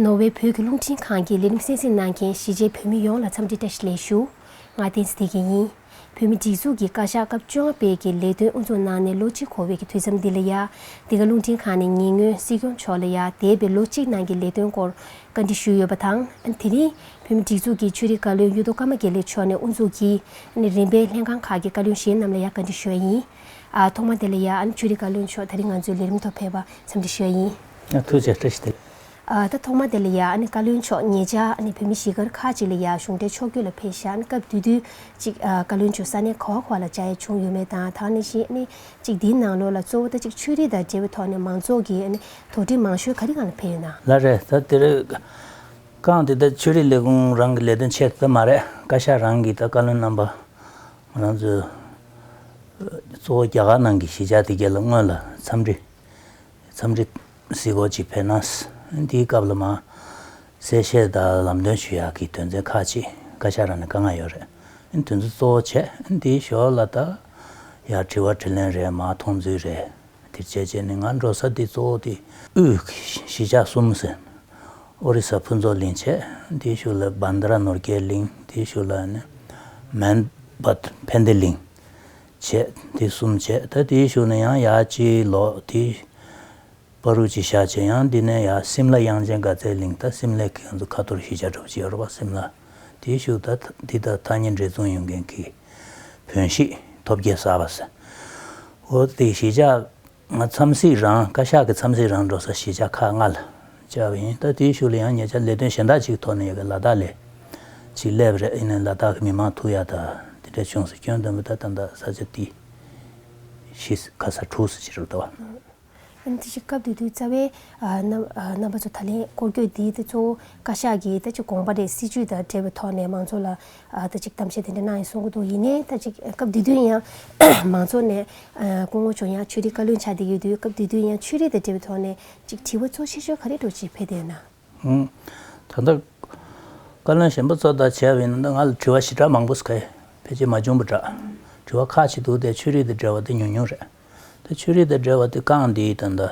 ནོར་ཝེ་བོད་ཀྱི་རླུང་འཕྲིན་ཁང་གི་ལས་རིམ་གསན་གཟིགས་གནང་མཁན་གཞིས་བྱེས་བོད་མི་ཡོངས་ལ་འཚམས་འདྲི་བཀྲ་ཤིས་ལེགས་ཞུ་ང་བསྟན་འཛིན་སྡེ་དགེ་ཡིན། བོད་མི་སྒྲིག་འཛུགས་ཀྱི་བཀའ་ཤག་སྐབས་བཅོ་ལྔ་སྤེལ་གྱི་ལས་དོན་དབུ་འཛུགས་གནང་ནས་ལོ་གཅིག་འཁོར་བའི་གི་དུས་མཚམས་འདི་ལ་ཡ་འདི་ག་རླུང་འཕྲིན་ཁང་ནས་ཉེ་སྔོན་སྲིད་སྐྱོང་མཆོག་ལ་ཡ་འདས་པའི་ལོ་གཅིག་ནང་གི་ལས་དོན་སྐོར་བཀའ་འདྲི་ཞུས་ཡོད་པ་དང། དེ་རིང་བོད་མི་སྒྲིག་འཛུགས་ཀྱི་ཆོས་རིག་བཀའ་བློན་གཡུ་རྡོ་ཀརྨ་དགེ་ལེགས་མཆོག་ནས་དབུ་འཛུགས་ཀྱིས་རིམ་པའི་ལྷན་ཁང་ཁག་གི་བཀའ་བློན་གཞན་རྣམས་ལ་ཡ་བཀའ་འདྲི་ཞུ་ཡ་ཡིན། ཐོག་མར་དེ་ལ་ཡ་ཆོས་རིག་བཀའ་བློན་མཆོག་ད་རིང་ང་ཚོའི་ལས་རིམ་ཐོག་ཕེབས་པ་འཚམས་འདྲི་ཞུ་ཡ་ཡིན། ཐུགས་རྗེ་བཀྲ་ཤིས། ད་ཐོག་མ་དེ་ལ་ཡང་བཀའ་བློན་མཆོག་ངེད་ཅག་བོད་མི་གཞིས་སྒར་ཁག་ཅིག་ལ་ཡང་གཞུང་འབྲེལ་ཕྱོགས་བསྐྱོད་ལ་ཕེབས་ཤག་སྐབས་དུས་དུས་གཅིག་བཀའ་བློན་མཆོག་ས་གནས་ག་བ་ག་བ་ལ་བཅར་ཡ་བྱུང་ཡོད་མེད་དང་དང་ནི་ཞེ་ནི་གཅིག་འདིའི་ནང་ལོགས་ལ་གཙོ་བོ་ད་ཅིག་ཆོས་རིག་དང་འབྲེལ་བའི་ཐོག་ནས་མང་ཚོགས་ཀྱི་དོགས་འདྲི་མང་ཤོས་ག་རེ་གང་ལ་ཕེབས་ཡོད་ན། ལ་རེད་ད་དེ་རིགས་གང་དེ་ད་ཆོས་རིག་ལས་ཁུངས་རང་གི་ལས་དོན་ཆེད་དུ་ད་མ་རེད་བཀའ་ཤག་རང་གིས་ད་བཀའ་བློན་རྣམ་པ་ང་རང་ཚོའི་གཙོ་བོ་རྒྱ་གར་ནང་གི་གཞིས་ཆགས་དེ་གའི་ལ་དངོས་ལ་འཚམས་འདྲི་འཚམས་འདྲི། གཟིགས་སྐོར་ཅིག་ཕེབས་ན། འདིའི་སྐབས་ལ་མ། གསལ་བཤད་དང་ལམ་སྟོན་ཞུ་ཡག་གི་དོན་ཚན་ཁག་ཅིག་བཀའ་ཤག་རང་ནས་བཀའ་མངགས་ཡོད་རེད། དོན་ཚུལ་གཙོ་བོ་བྱས་འདིའི་ཞོར་ལ་ད། ཡར་དྲི་བ་དྲི་ལན་རེ་མ་མཐོང་ཚུལ་རེད། དེར་བྱས་རྗེས་ནི་ང་འགྲོ་ས་འདི་གཙོ་བོ་དེ། དབུས། གཞིས་ཆགས་གསུམ་ཟེར། ཨོ་རི་ས་ཕུན་ཚོགས་གླིང་བྱས། དེའི་ཤུལ་ལ་བཱན་དཱ་ར་ནོར་རྒྱས་གླིང། དེའི་ཤུལ་ལ་ནི། མན། བཱན་དྷེ་གླིང། བྱས། དེ་གསུམ་བྱས་ད་དེའི་ཞོར་ནས་ཡང་ཡར་སྐྱེལ་ལོག་དེ། པ་རུ་ཅི་ཤ་བྱས་ཡང་འདི་ནས་ཡར་སིམ་ལ་དབྱངས་ཅན་དགའ་ཚལ་གླིང་ད་སིམ་ལས་ཁེངས་ཚུ་ཁ་ཐོར་ཤི་བྱ་གྲུབ་བྱེད་རོགས་སིམ་ལ། དེའི་ཞུགས་ད་འདི་ད་ཐ་སྙད་འདྲེ་བཙོང་ཡོང་མཁན་གྱི། བོན་ཤིག་ཐོབ་རྒྱལ་ས་བ་སིན། འོ་དེ་ཤི་བྱ་ང་འཚམས་གཟིགས་རང་བཀའ་ཤག་གི་འཚམས་གཟིགས་རང་འགྲོ་ས་གཞིས་ཆགས་ཁག་ལྔ་ལ་བཅར་བ་ཡིན་ལྟ་དེའི་ཤུགས་ལ་ཡང་ཉེ་ཆར་ལས་དོན་གཞན་དག་ཅིག་ཐོག་ནས་ཡོད་པའི་ལ་དྭགས་ལས་ཅིག་སླེབས་པ་རེད་ཡིན་ནའི་ལ་དྭགས་ཀྱི་མི་མང་ཐུགས་ཡག་དག་དེ་འདྲ་བྱུང་ཟེར་སྐྱོན་བདུན་པོ་ད་ལྟ་འདག་ས་ཆ་དེ་གཞིས་ཁ་ས་དྲུག་སུ་ཅི་རུ་བལྟ་བ། ཡང་དེ་བཞིན་སྐབས་དེ་དུས་རྩ་བའི་རྣམ་པ་ཚོ་ད་ལན་སྐོར་སྐྱོད་དེའི་ཐད་གཙོ་བོ་བཀའ་ཤག་གིས་ད་ཅི་དགོངས་པ་རེད་སྲིད་ཇུས་དང་འབྲེལ་བའི་ཐོག་ནས་མང་ཚོགས་ལ་ཨ་ད་ཅིག་གཏམ་བཤད་དེ་འདྲ་གནང་ཡིན་གསུང་གི་འདུག་ཡིན་ནའི་ད་ཅིག་སྐབས་དེ་དུས་ཡང་མང་ཚོགས་ནས་སྐུ་ངོ་བྱུང་ཡང་ཆོས་རིག་བཀའ་བློན་ཆགས་བསྡད་ཡོད་དུས་སྐབས་དེ་དུས་ཡང་ཆོས་རིག་དང་འབྲེལ་བའི་ཐོག་ནས་ཅིག་དྲི་བ་གཙོ་ཆེ་ཤོས་ག་རེ་འགྲོ་ཅིག་ཕེ་དེ་ན། ད་ལྟ་བཀའ་བློན་གཞན་པ་ཚོ་དང་བྱས་པ་ཡིན་ན་ང་ལ་དྲི་བ་ཞི་དྲག་མང་པོ་ཕེ་རྗེས་མ་བྱུང་པ་འདྲ། དྲི་བ་ཁག་ཅིག་འདུག་དེ་ཆོས་རིག་དང་འབྲེལ་བ་དེ་ཉུང་ཉུང་རེད། དེ་ཆོས་རིག་དང་འབྲེལ་བ་དེ་རྐང་འདིའི་དང་ད།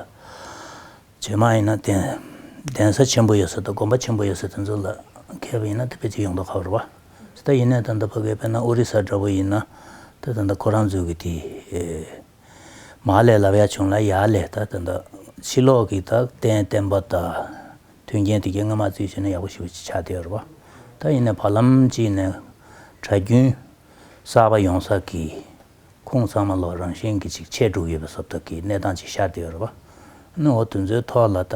བྱེ་མ་ཡིན་ན་གདན། གདན་ས་ཆེན་པོ་ཡོད་སར་དུ་དགོན་པ་ཆེན་པོ་ཡོད་སར་དེ་ཚོ་ལ་མཁས་པ་ཡིན་ན་དེ་ཕལ་ཆེར་ཡོང་དོ་ཁ་བར་བ། ད་ཡིན་ནའི་ད་ད་ཕ་གའི་བན་ན་ཨོ་རི་ས་འདྲ་བོ་ཡིན་ན་ད་ད་ད་ཁོ་རང་ཚོའི་གི་དེ། མ་ལས་ལབ་ཡ་བྱུང་ལ་ཡ་ལས་ད་ད་ད་ཕྱི་ལོག་གི་ད་གདན་བསྟན་པ་ད། མཐུན་རྐྱེན་དེ་གའི་སྔ་མ་བརྩིས་ཞུས་ན་ཡག་པོ་ཞིག་ཆགས་བསྡད་ཡོད་རེད་བ། ད་ཡིན་ནའི་བར་ལམ་གཅིག་ནས་གྲྭ་རྒྱུན་གསར་པ་ཡོང་སར་གི། ཁོང་ཚང་མ་ལོ་རང་བཞིན་གྱི་ཅིག་ཆད་དྲུག་ཡོད་པའི་བཟོ་ལྟ་གི་གནས་སྟངས་ཅིག་ཤར་དུ་ཡོད་རེད་པ། ནི་འོ་དེ་ཚོའི་ཐོག་ལ་ད་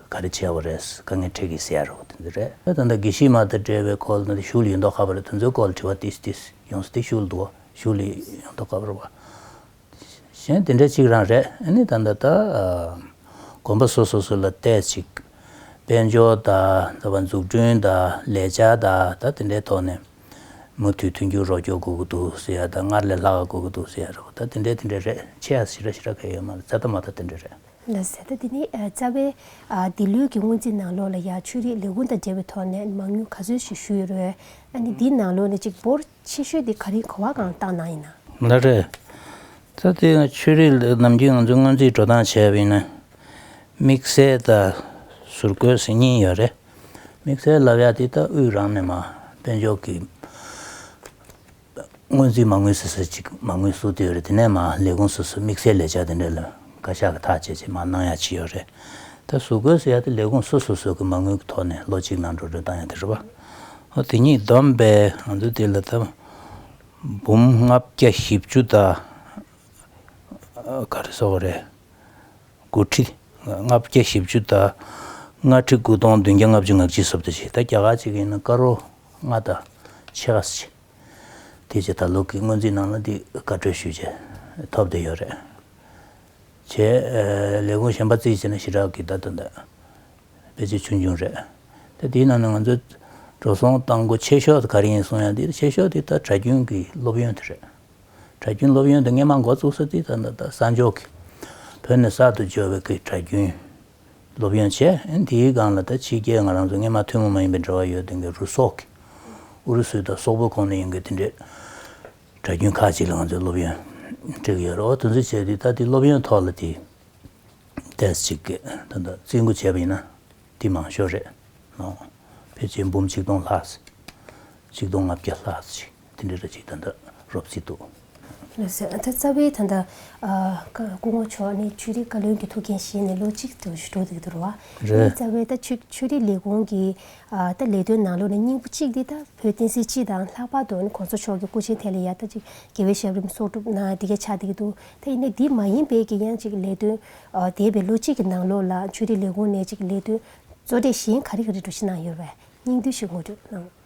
ག་རེ་བྱས་བ་རེད་དཀའ་ངལ་འཕྲད་གི་ཟེར་ཡ་རེད་འོ་དེ་ཚོ་རེད། ད་ལྟ་དགེ་བཤེས་མ་དང་འབྲེལ་བའི་སྐོར་དེ་ཤུལ་ཡོད་མདོག་ཁ་བ་རེད་དེ་ཚོའི་སྐོར་ལ་དྲི་བ་ཏིས་ཏིས་ཡོང་སྲིད་དེ་ཤུལ་འདུག་བ་ཤུལ་ཡོད་མདོག་ཁ་བ་རེད་བ། གཞན་དེ་འདྲ་ཅིག་རང་རེད་ནི་ད་ད་ད་དགོན་པ་སོ་སོ་སོ་ལ་བལྟས་ཅིག་དཔལ་འབྱོར་དང་འཛུགས་སྐྲུན་དང་ལས་བྱ་དང་ད་དེ་འདྲའི་ཐོག་ནས། མུ་མཐུད་མཐུན་འགྱུར་རོགས་སྐྱོར་དགོས་ཀྱི་འདུག་ཟེར་ཡ་ད་སྔར་ལས་ལྷག་ག་དགོས་ཀྱི་འདུག་ཟེར་ཡ་རེད་བ་ད་དེ་འདྲའི་དེ་འདྲའི་རེད་ཆེ་ཡ་ཞི་ར་ཞི་ར་ག་ཡོད་མ་རེད་ཙད་ད་མ་ད་དེ་འདྲའི་རེད། ཟད་ད་དེ་ནི་རྩ་བའི། འདི་ལོའི་གི་སྔོན་རྩིས་ནང་ལོགས་ལ་ཡང་ཆོས་རིག་ལས་ཁུངས་དང་འབྲེལ་བའི་ཐོག་ནས་མང་ཉུང་ག་ཚོད་ཞིག་ཞུས་ཡོད་རེད། ཨ་ནི་འདི་ནང་ལོགས་ནས་གཅིག་འབོར་ཆེ་ཤོས་དེ་ག་རིང་གོ་བ་གང་བཏང་གནང་ཡིན་ནམ། ལ་རེད། ད་དེ་ཡང་ཆོས་རིག་ལས་ནམ་རྒྱུན་ང་ཚོས་སྔོན་རྩིས་འགྲོ་སྟངས་བྱས་པ་ཡིན་ན། དམིགས་བསལ་ད་ཟུར་བཀོལ་ཟེར་ཉིན་ཡོད་རེད། དམིགས་བསལ་ལབ་ཡ་དེ་ལྟ་དབུས་རང་ནས་མ་དཔལ་འབྱོར་གྱི་སྔོན་རྩིས་མ་དངུལ་ཟེར་སྲོལ་ཅིག་མ་དངུལ་བསུ་དུས་རེད་དེ་ནས་མ་ལས་ཁུངས་སོ་སོས་དམིགས་བསལ་ལས་བྱ་དེ་འདྲ་ལ་བཀའ་ཤག་གི་ཐག་བཅད་ཅིག་མ་གནང་ཡ་ཅི་ཡོད་རེད་ད་བཟོ་དགོས་ཟེར་ཡ་དེ་ལས་ཁུངས་སོ་སོ་སོ་གི་མ་དངུལ་གི་ཐོག་ནས་ལོ་གཅིག་ནང་འགྲོ་གྲོན་བཏང་ཡ་དེ་རེད་བ། ཨོ་དེ་གཉིས་བསྡོམས་པས་ང་ཚོས་དེ་ལ་ད་འབུམ་ལྔ་བརྒྱ་བཞི་བཅུ་དང་ག་རེ་སོགས་རེད། དགུ་ཁྲི་ལྔ་བརྒྱ་བཞི་བཅུ་རྟ། ལྔ་ཁྲི་དགུ་སྟོང་བདུན་བརྒྱ་ལྔ་བཅུ་ངག་གཅིག་སོབ་ཏུ་བྱེད་རྟ་བརྒྱ་ཁ་ཅིག་གིས་ནི་དཀར་རོ་ལྔ་རྟ་ཕྱེད་ཁ་སུ་བྱེད། དེ་ཕྱིར་ད་ལོ་གི་སྔོན་རྩིས་ནང་ལ་འདི་བཀའ་འཁྲོལ་ཞུས་རྗེས་ཐོབ་བསྡད་ཡོད་རེད། བྱས། ལས་ཁུངས་གཞན་པ་རྩིས་བྱས་ན་ཞི་དྲག་གི་བརྡ་དོན་དང། བེད་སྤྱོད་ཆུང་ཆུང་རེད། ད་དེའི་ནང་ནས་ང་ཚོའི་འགྲོ་སོང་གཏང་སྒོ་ཆེ་ཤོས་དེ་ག་རེ་ཡིན་གསུང་ཡང་དེ་ཆེ་ཤོས་དེ་ད་གྲྭ་རྒྱུན་གྱི་སློབ་ཡོན་དེ་རེད། གྲྭ་རྒྱུན་སློབ་ཡོན་དུ་སྔས་མ་འགོ་བཙུགས་ས་དེ་ད་ནི་ད་སང་ཇོ་ཁི་བོད་ནས་གསར་དུ་འབྱོར་བའི་ཁིས་གྲྭ་རྒྱུན་སློབ་ཡོན་བྱས་དེའི་སྒང་ལ་ད་ཕྱི་རྒྱལ་ང་རང་ཚོ་སྔས་མ་ཐུན་མོང་མ་ཡིན་པའི་འབྲེལ་བ་ཡོད་དེ་གའི་རུ་སོག་གི་ཨུ་རུ་སུའི་ད་སོག་པོ་ཁོང་ནས་ཡིན་གི་དེ་འདྲའི་གྲྭ་རྒྱུན་ཁག་ཅིག་ལ་ང་ཚོས་སློབ་ཡོན་སྤྲད་གི་ཡོད་རེད་འོ་དེ་ཚོ་བྱས་དེ་ད་དེ་སློབ་ཡོན་ཐོག་ལ་དེ་ཏེས་ཅིག་གི་ད་ད་རྩིས་མགོ་བྱས་པ་ཡིན་ན་དེ་མང་ཤོས་རེད་ནོ་ཕལ་ཆེར་འབུམ་གཅིག་སྟོང་ལྷག་ཅིག་སྟོང་ལྔ་བརྒྱ་ལྷག་ཅིག། དེ་འདྲའི་ར་གཅིག་ད་ལྟ་རོབ་རྩིས་འདུག། ལོས་ཟེར། ད་རྩ་བའི་ད་ལྟ། སྐུ་ངོ་མཆོག་ནི་ཆོས་རིག་བཀའ་བློན་གྱི་ཐུགས་འགན་བཞེས་ནས་ལོ་གཅིག་ཏུ་ཞུ་གྲོགས་འདུག་གི་འདུག་རོ། རེད། ངས་རྩ་བའི་ད་ཆོས་ཆོས་རིག་ལས་ཁུངས་ཀྱི་ད་ལས་དོན་ནང་ལོ་ནས་སྙིང་པོ་གཅིག་དེ་ད་བོད་བསྟན་སྲིད་སྤྱི་དང་ལྷག་པར་དུ་ནི་གོང་ས་མཆོག་གི་སྐུ་ཆེན་ཐད་ལ་ཡང་ད་ཅིག་དགེ་བའི་ཞབས་རིམ་གསོག་གྲུབ་ན་དེ་གས་ཆགས་འདུག་གི་འདུག་ད་ཡིན་ནའི་དེ་མ་ཡིན་པའི་ཀྱི་ཡང་ཅིག་ལས་དོན་འདས་པའི་ལོ་གཅིག་གི་ནང་ལོ་ལ་ཆོས་རིག་ལས་ཁུངས་ནས་ཅིག་ལས་དོན་གཙོ་གྲས་གཞན་ག་རེ་ག་རེ་འགྲོ་བཞིན་གནང་ཡོད་པས་སྙིང་བསྡུས་ཤིག་ངོ་སྤྲོད་གནང།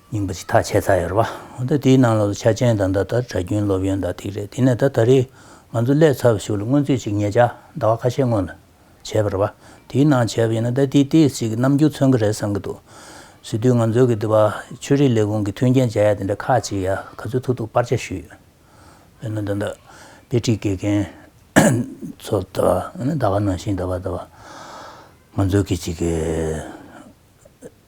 རྙིང་པ་ཅིག་ཐག་ཆད་ཚར་ཡོད་རེད་པ། དེའི་ནང་ལོགས་སུ་ཆ་ཅན་དང་འདྲ་ལྟར་གྲྭ་རྒྱུན་སློབ་ཡོན་དང་ཐིག་རེ་དེ་ནས་ད་ད་རེས་ང་ཚོ་སླད་ཚར་བ་ཞིག་ལ་སྔོན་ཚུད་ཅིག་ངེད་ཅག་ཟླ་བ་ཁ་ཤས་སྔོན་ལ་བྱས་པ་རེད་པ། དེའི་ནང་བྱས་པ་ཡིན་ན་ད་དེའི་ལྟས་ཞིག་རྣམ་འགྱུར་མཚོན་གྱི་རེད་བསམ་གྱི་འདུག་ཟེར་དུས་ང་ཚོའི་གི་འདི་བ་ཆོས་རིག་ལས་ཁུངས་ཀྱི་མཐུན་རྐྱེན་བྱ་ཡ་དེ་འདྲ་ཁག་ཅིག་ཡ་ག་ཚོད་ཐུག་ཐུག་སྤར་ཆ་ཞུས་ཡོད། དཔེར་ན་ད་ད་དཔེ་ཁྲིད་དགེ་རྒན་ཚོ་ད་ད་ག་ནང་བཞིན་ད་བ་ད་བ་ང་ཚོའི་གི་ཅིག་གི།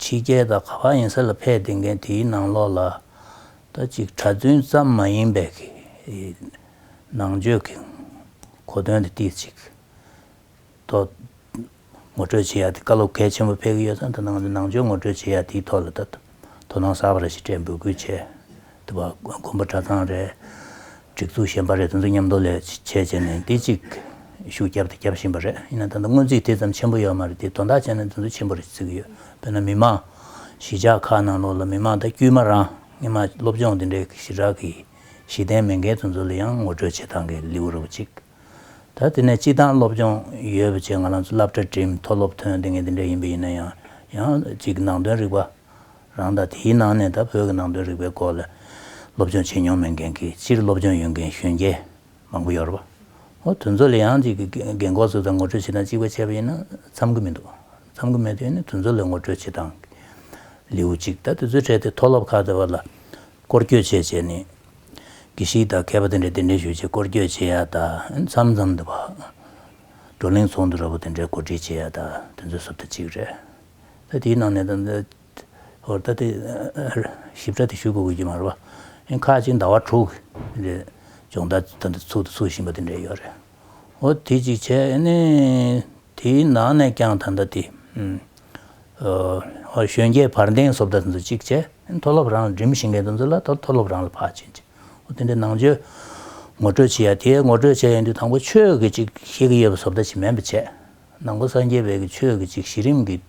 ཕྱི་རྒྱལ་དང་ག་པར་ཡིན་ས་ལ་ཕེབས་བསྡད་མཁན་དེའི་ནང་ལོགས་ལ་ད་ཅིག་གྲྭ་བཙུན་ཙམ་མ་ཡིན་པའི་ནང་ཆོས་ཀྱི་གོ་དོན་དེ་ཏིག་ཅིག་ཐོག་ངོ་སྤྲོད་བྱེད་ཡ་དེ་བཀའ་སློབ་གལ་ཆེན་པོ་ཕེབས་ཀྱི་ཡོད་ས་འདི་ནང་ནང་ཆོས་ངོ་སྤྲོད་བྱེད་ཡ་དེའི་ཐོག་ལ་ད་དོ་སྣང་གསར་པ་རེ་ཞིག་སྤྲད་འབོད་སྐུལ་བྱས་དེ་བ་དགོན་པ་གྲྭ་ཚང་རེད། སྒྲིག་འཛུགས་གཞན་པ་རེད་དེ་ཚོ་མཉམ་དུ་ལས་བྱེད་བྱས་ནས་འདི་གཅིག་ཤུགས་བརྒྱབ་དང་རྒྱབ་བཞིན་པ་རེད་ཡིན་ན་ད་ལྟ་སྔོན་རྩིས་དེ་ཙམ་ཆེན་པོ་ཡོད་མ་རེད་དེ་དོན་དག་བྱས་ན་དེ་ཚོ་ཆེན་པོ་རེད་བརྩི་གི་ཡོད་དཔེར་ན་མི་མང་གཞིས་ཆགས་ཁག་ནང་ལོགས་ལ་མི་མང་ད་དཀྱུས་མ་རང་སྔེ་མ་སློབ་སྦྱོང་དེ་འདྲའི་ཞི་དྲག་གིས་གཞི་རྟེན་མེད་མཁན་དེ་ཚོ་ལ་ཡང་ངོ་སྤྲོད་བྱེད་སྟངས་ཀྱི་ལེའུ་རབ་གཅིག་ད་དེ་ནས་སྤྱི་བཏང་སློབ་སྦྱོང་ཡོད་པ་བྱས་ང་རང་ཚོ་བསླབ་གྲྭ་འགྲིམས་མཐོ་སློབ་ཐོན་དེ་ངས་དེ་འདྲ་ཡིན་པ་ཡིན་ན་ཡང་ཡང་ཅིག་ནང་དོན་རིག་པ། རང་དང་དེའི་ནང་ནས་ད་བོད་ཀྱི་ནང་དོན་རིག་པའི་སྐོར་ལ་སློབ་སྦྱོང་བྱེད་མྱོང་མེད་མཁན་གྱི་སྤྱིར་སློབ་སྦྱོང་ཡོད་མཁན་གཞོན་སྐྱེས་མང་པོ་ཡོད་རེད། ཨོ་དོན་ཚོ་ལས་ཡང་གཅིག་གི་རྒན་གོག་ཚོས་ད་ངོ་སྤྲོད་བྱེད་སྟངས་གཅིག་པ་བྱས་པ་ཡིན་ན་འཚམ་གི་མི་འདུག་འཚམ་གི་མེད་དུས་ནི་དོན་ཚོ་ལས་ངོ་སྤྲོད་བྱེད་སྟངས་ཀྱི་ལེའུ་གཅིག་ད་དེ་ཚོའི་གྲས་དེ་མཐོ་སློབ་ཁག་དེ་བ་ལ་སྐོར་བསྐྱོད་བྱས་བྱས་ནས་གི་ཞིག་ད་མཁས་པ་དེ་འདྲས་དེ་འདྲས་ཞུ་བྱེད་སྐོར་བསྐྱོད་བྱེད་ཡ་ད་འཚམ་འཚམ་དུ་བགྲོ་གླེང་ཚོགས་འདུ་ར་བོ་དེ་འདྲས་གོ་སྒྲིག་བྱེད་ཡ་ད་དེ་ཚོའི་སུབ་ད་གཅིག་རེད། ད་དེའི་ནང་ནས་ད་ལྟ་དེ་ཞིབ་ཕྲ་དེ་ཞུ་དགོས་ཀྱི་མ་རེད་པ། ཁ་ཅིག་ཟླ་བ་དྲུག་རེད་སྦྱོང་བརྡར་ད་ལྟ་ཚུགས་དང་ཚུགས་བཞིན་པ་དེ་འདྲ་ཡོད་རེད། འོ་དེ་གཅིག་བྱས་ནས་དེའི་ནང་ནས་ཀྱང་ད་ལྟ་དེ་གཞོན་སྐྱེས་བར་འདེང་བཟོ་བརྡར་དེ་ཚོ་གཅིག་བྱས་མཐོ་སློབ་རང་ལ་འགྲིམ་བཞིན་མཁན་དེ་ཚོ་ལ་མཐོ་སློབ་རང་ལ་ཕར་བྱིན་ཅིག་དེ་འདྲའི་ནང་ཆོས་ངོ་སྤྲོད་བྱས་ཡ་དེ་ངོ་སྤྲོད་བྱས་ཡོང་དུས་དང་པོ་ཆོས་ཀྱི་གཅིག་ཤེས་ཀྱི་ཡོད་པ་བཟོ་བརྡར་བྱེད་མེད་པ་བྱས། ནང་པ་སངས་རྒྱས་བོད་ཀྱི་ཆོས་ཀྱི་གཅིག་གཞི་རིམ་གྱི་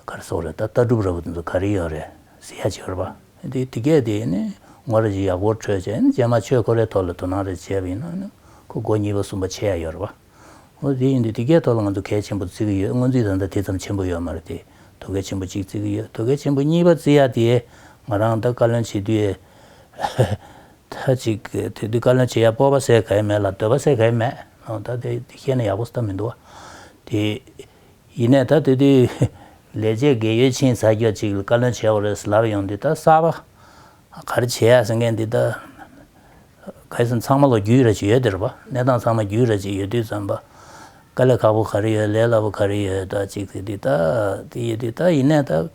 གར་སོགས་རེད་ད་ལྟ་སྒྲུབ་ར་བ་དེ་ཚོ་ག་རེ་ཡོད་རེད་ཟེར་ཡ་བྱེད་རོགས་པ་དེ་དེ་གས་དེ་ནི་ངོ་རེ་བྱེད་ཡག་པོར་འཕྲོད་བྱས་ནི་རྗེས་མ་ཆོས་འཁོར་རའི་ཐོག་ལ་དོ་སྣང་རེ་བྱས་པ་ཡིན་ན་ནི་ཁོ་སྒོ་གཉིས་པ་གསུམ་པ་ཆེ་ཡ་ཡོད་རོགས་པ་འོ་དེ་ཡིན་དུས་དེ་གས་ཐོག་ལ་ང་ཚོ་གལ་ཆེན་པོ་བརྩི་གི་ཡོད་སྔོན་རྩིས་ད་ལྟ་དེ་ཙམ་ཆེན་པོ་ཡོད་མ་རེད་དེ་དོ་གལ་ཆེན་པོ་གཅིག་བརྩི་གི་ཡོད་དོ་གལ་ཆེན་པོ་གཉིས་པ་བརྩི་ཡ་དེ་ང་རང་ད་བཀའ་བློན་བྱེད་དུས་ད་ཅིག་དེ་དུས་བཀའ་བློན་བྱེད་ཡ་སྤོབས་པ་སེ་ག་ཡི་མེད་ལ་འདོད་པ་སེ་ག་ཡི་མེད་ཨོ་ད་དེ་བཤད་ན་ཡག་པོ་སྟབས་མི་འདུག་དེ་ཡིན་ནས་ད་དེ་དུས་ལས་བྱེད་དགེ་ཡོལ་ཕྱིན་ཚར་ཁྱོད་ཅིག་བཀའ་བློན་བྱེད་འོ་རེས་ལབ་ཡོང་འདི་ད་གསར་པ་ག་རེ་བྱེད་ཡ་ཟེར་མཁན་འདི་ད་ག་ཟེར་ཚང་མ་ལོ་རྒྱུས་ར་ཅིག་ཡོད་དེ་རེད་པ་གནས་སྟངས་ཚང་མ་རྒྱུས་ར་ཅིག་ཡོད་དུས་ཙམ་པ་དཀའ་ལས་ཁག་པོ་ག་རེ་ཡོད་ལས་སླ་པོ་ག་རེ་ཡོད་ད་ཅིག་དེ་དུས་ད་དེ་ཡོད་དུས་ད་ཡིན་ནས་ད།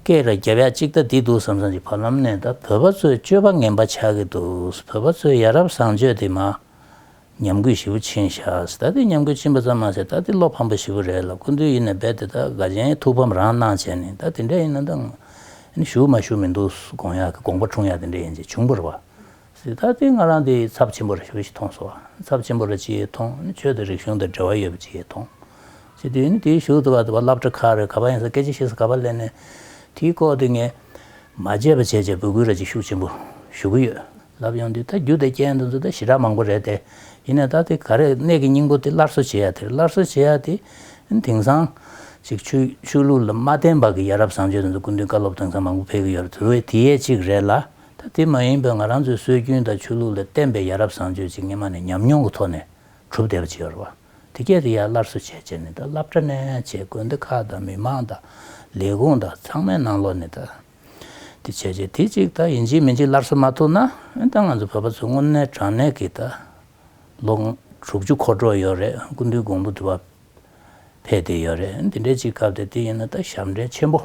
སྐད་ལ་རྒྱབ་ཡ་གཅིག་ལྟ་འདི་འདུག་བསམ་བསམ་གྱི་བར་ལམ་ནས་ད་བོད་པ་ཚོས་སྤྱོད་པ་ངན་པ་ཆགས་ཀྱི་འདུག་བོད་པ་ཚོས་ཡ་རབས་བཟང་སྤྱོད་དེ་མ་ཉམས་གུས་ཞེ་བོ་ཕྱིན་བཞག་ད་འདི་ཉམས་གུས་ཕྱིན་པ་ཙམ་མ་ཟད་ད་འདི་བློ་ཕམ་པ་ཞེ་བོ་རེད་ལ་ཀུན་འདུས་ཡིན་ནས་རྦད་དེ་ད་དགའ་ཆེན་ཐུགས་ཕམ་རང་གནང་བྱས་ནས་ད་དེ་འདྲ་ཡིན་ན་ད་ང་ཞུ་མ་ཞུ་མི་འདུག་དགོངས་ཡག་གི་དགོངས་པ་འཁྲུངས་ཡག་དེ་འདྲ་ཡིན་ཅེས་བྱུང་བར་བ། གཟི་ལྟར་ལྡན་ང་རང་འདི་ཚབས་ཆེན་པོར་ཞུ་བྱེད་མཐོང་སོ། ཚབས་ཆེན་པོར་ཅི་ཡོད་མཐོང་ཆོས་དང་རིག་གཞུང་དང་འབྲེལ་བ་ཡོད་པ་ཅི་ཡོད་མཐོང། སྤྱི་འཐུས་ནི་དེའི་ཞུགས་འདུག་ག་བ་བསླབ་གྲྭ་ཁག་རེར་ག་བ་ཡིན་ས་སྐད་ཅིག་བཤད་ས་ག་བ་གླེང་ནས་དེའི་ལྐོག་ཏུ་ངས་མ་བརྗེད་པ་བྱས་བྱས་འབོད་སྐུལ་ར་ཅིག་ཤུགས་ཆེན་པོ་ཞུ་གི་ཡོད། ལབ་ཡོང་དུས་ད་རྒྱུ་དེ་རྐྱེན་དང་ཚུལ་དང་ཞི་དྲག་མང་པོ་རེད་དེ། ཡིན་ནའི་ད་དེ་ག་རེ་གནད་ཀྱི་སྙིང་པོ་དེ་སླར་གསོ་བྱེད་ཡ་དེར་སླར་གསོ་བྱེད་ཡ་དེ། དེང་སང། ཅིག་ཆོས་ལུགས་ལ་མ་བརྟེན་པ་གི་ཡ་རབས་བཟང་སྤྱོད་དང་ཚུལ་ཀུན་མཐུན་བཀའ་སློབ་དེང་སང་མང་པོ་འཕེལ་གི་ཡོད་རེད་དེ་བས་དེའི་ཡས་གཅིག་རེད་ལ། ད་དེ་མ་ཡིན་པའི་ང་རང་ཚོའི་སྲོལ་རྒྱུན་དང་ཆོས་ལུགས་ལ་བརྟེན་པའི་ཡ་རབས་བཟང་སྤྱོད་ཅིག་སྙེ་མ་ནས་ཉམས་མྱོང་གི་ཐོག་ནས་གྲུབ་བསྡད་པ་ཅིག་ཡོད་རེད་བ། དེ་སྐད་དེ་ཡར་སླར་གསོ་བྱས་བྱས་ནས་ད་བསླབ་གྲྭ་ནས་བྱས་དགོན་སྡེ་ཁག་དང་མི་མང་དང་ལས་ཁུངས་དང་ཚང་མའི་ནང་ལོག་ནས་ད་དེ་བྱས་བྱས་དེ་ཅིག་ད་ཡིན་གཅིག་མིན་གཅིག་སླར་གསོ་མ་ཐུབ་ན་འོན་ཏང་ང་ཚོ་བོད་པ་ཚོ་དངོས་གནས་དྲང་གནས་ཀྱི་ད་ལོ་དྲུག་ཅུ་འཁོར་འགྲོ་ཡོད་རེད་སྐུ་མདུན་གོང་བུ་དུ་བ་འཕེལ་བསྡད་ཡོད་རེད་འདི་འདྲའི་ཅིག་སྐབས་དེ་དེ་ཡིན་ན་ད་ཞབས་འདྲེན་ཆེན་པོ།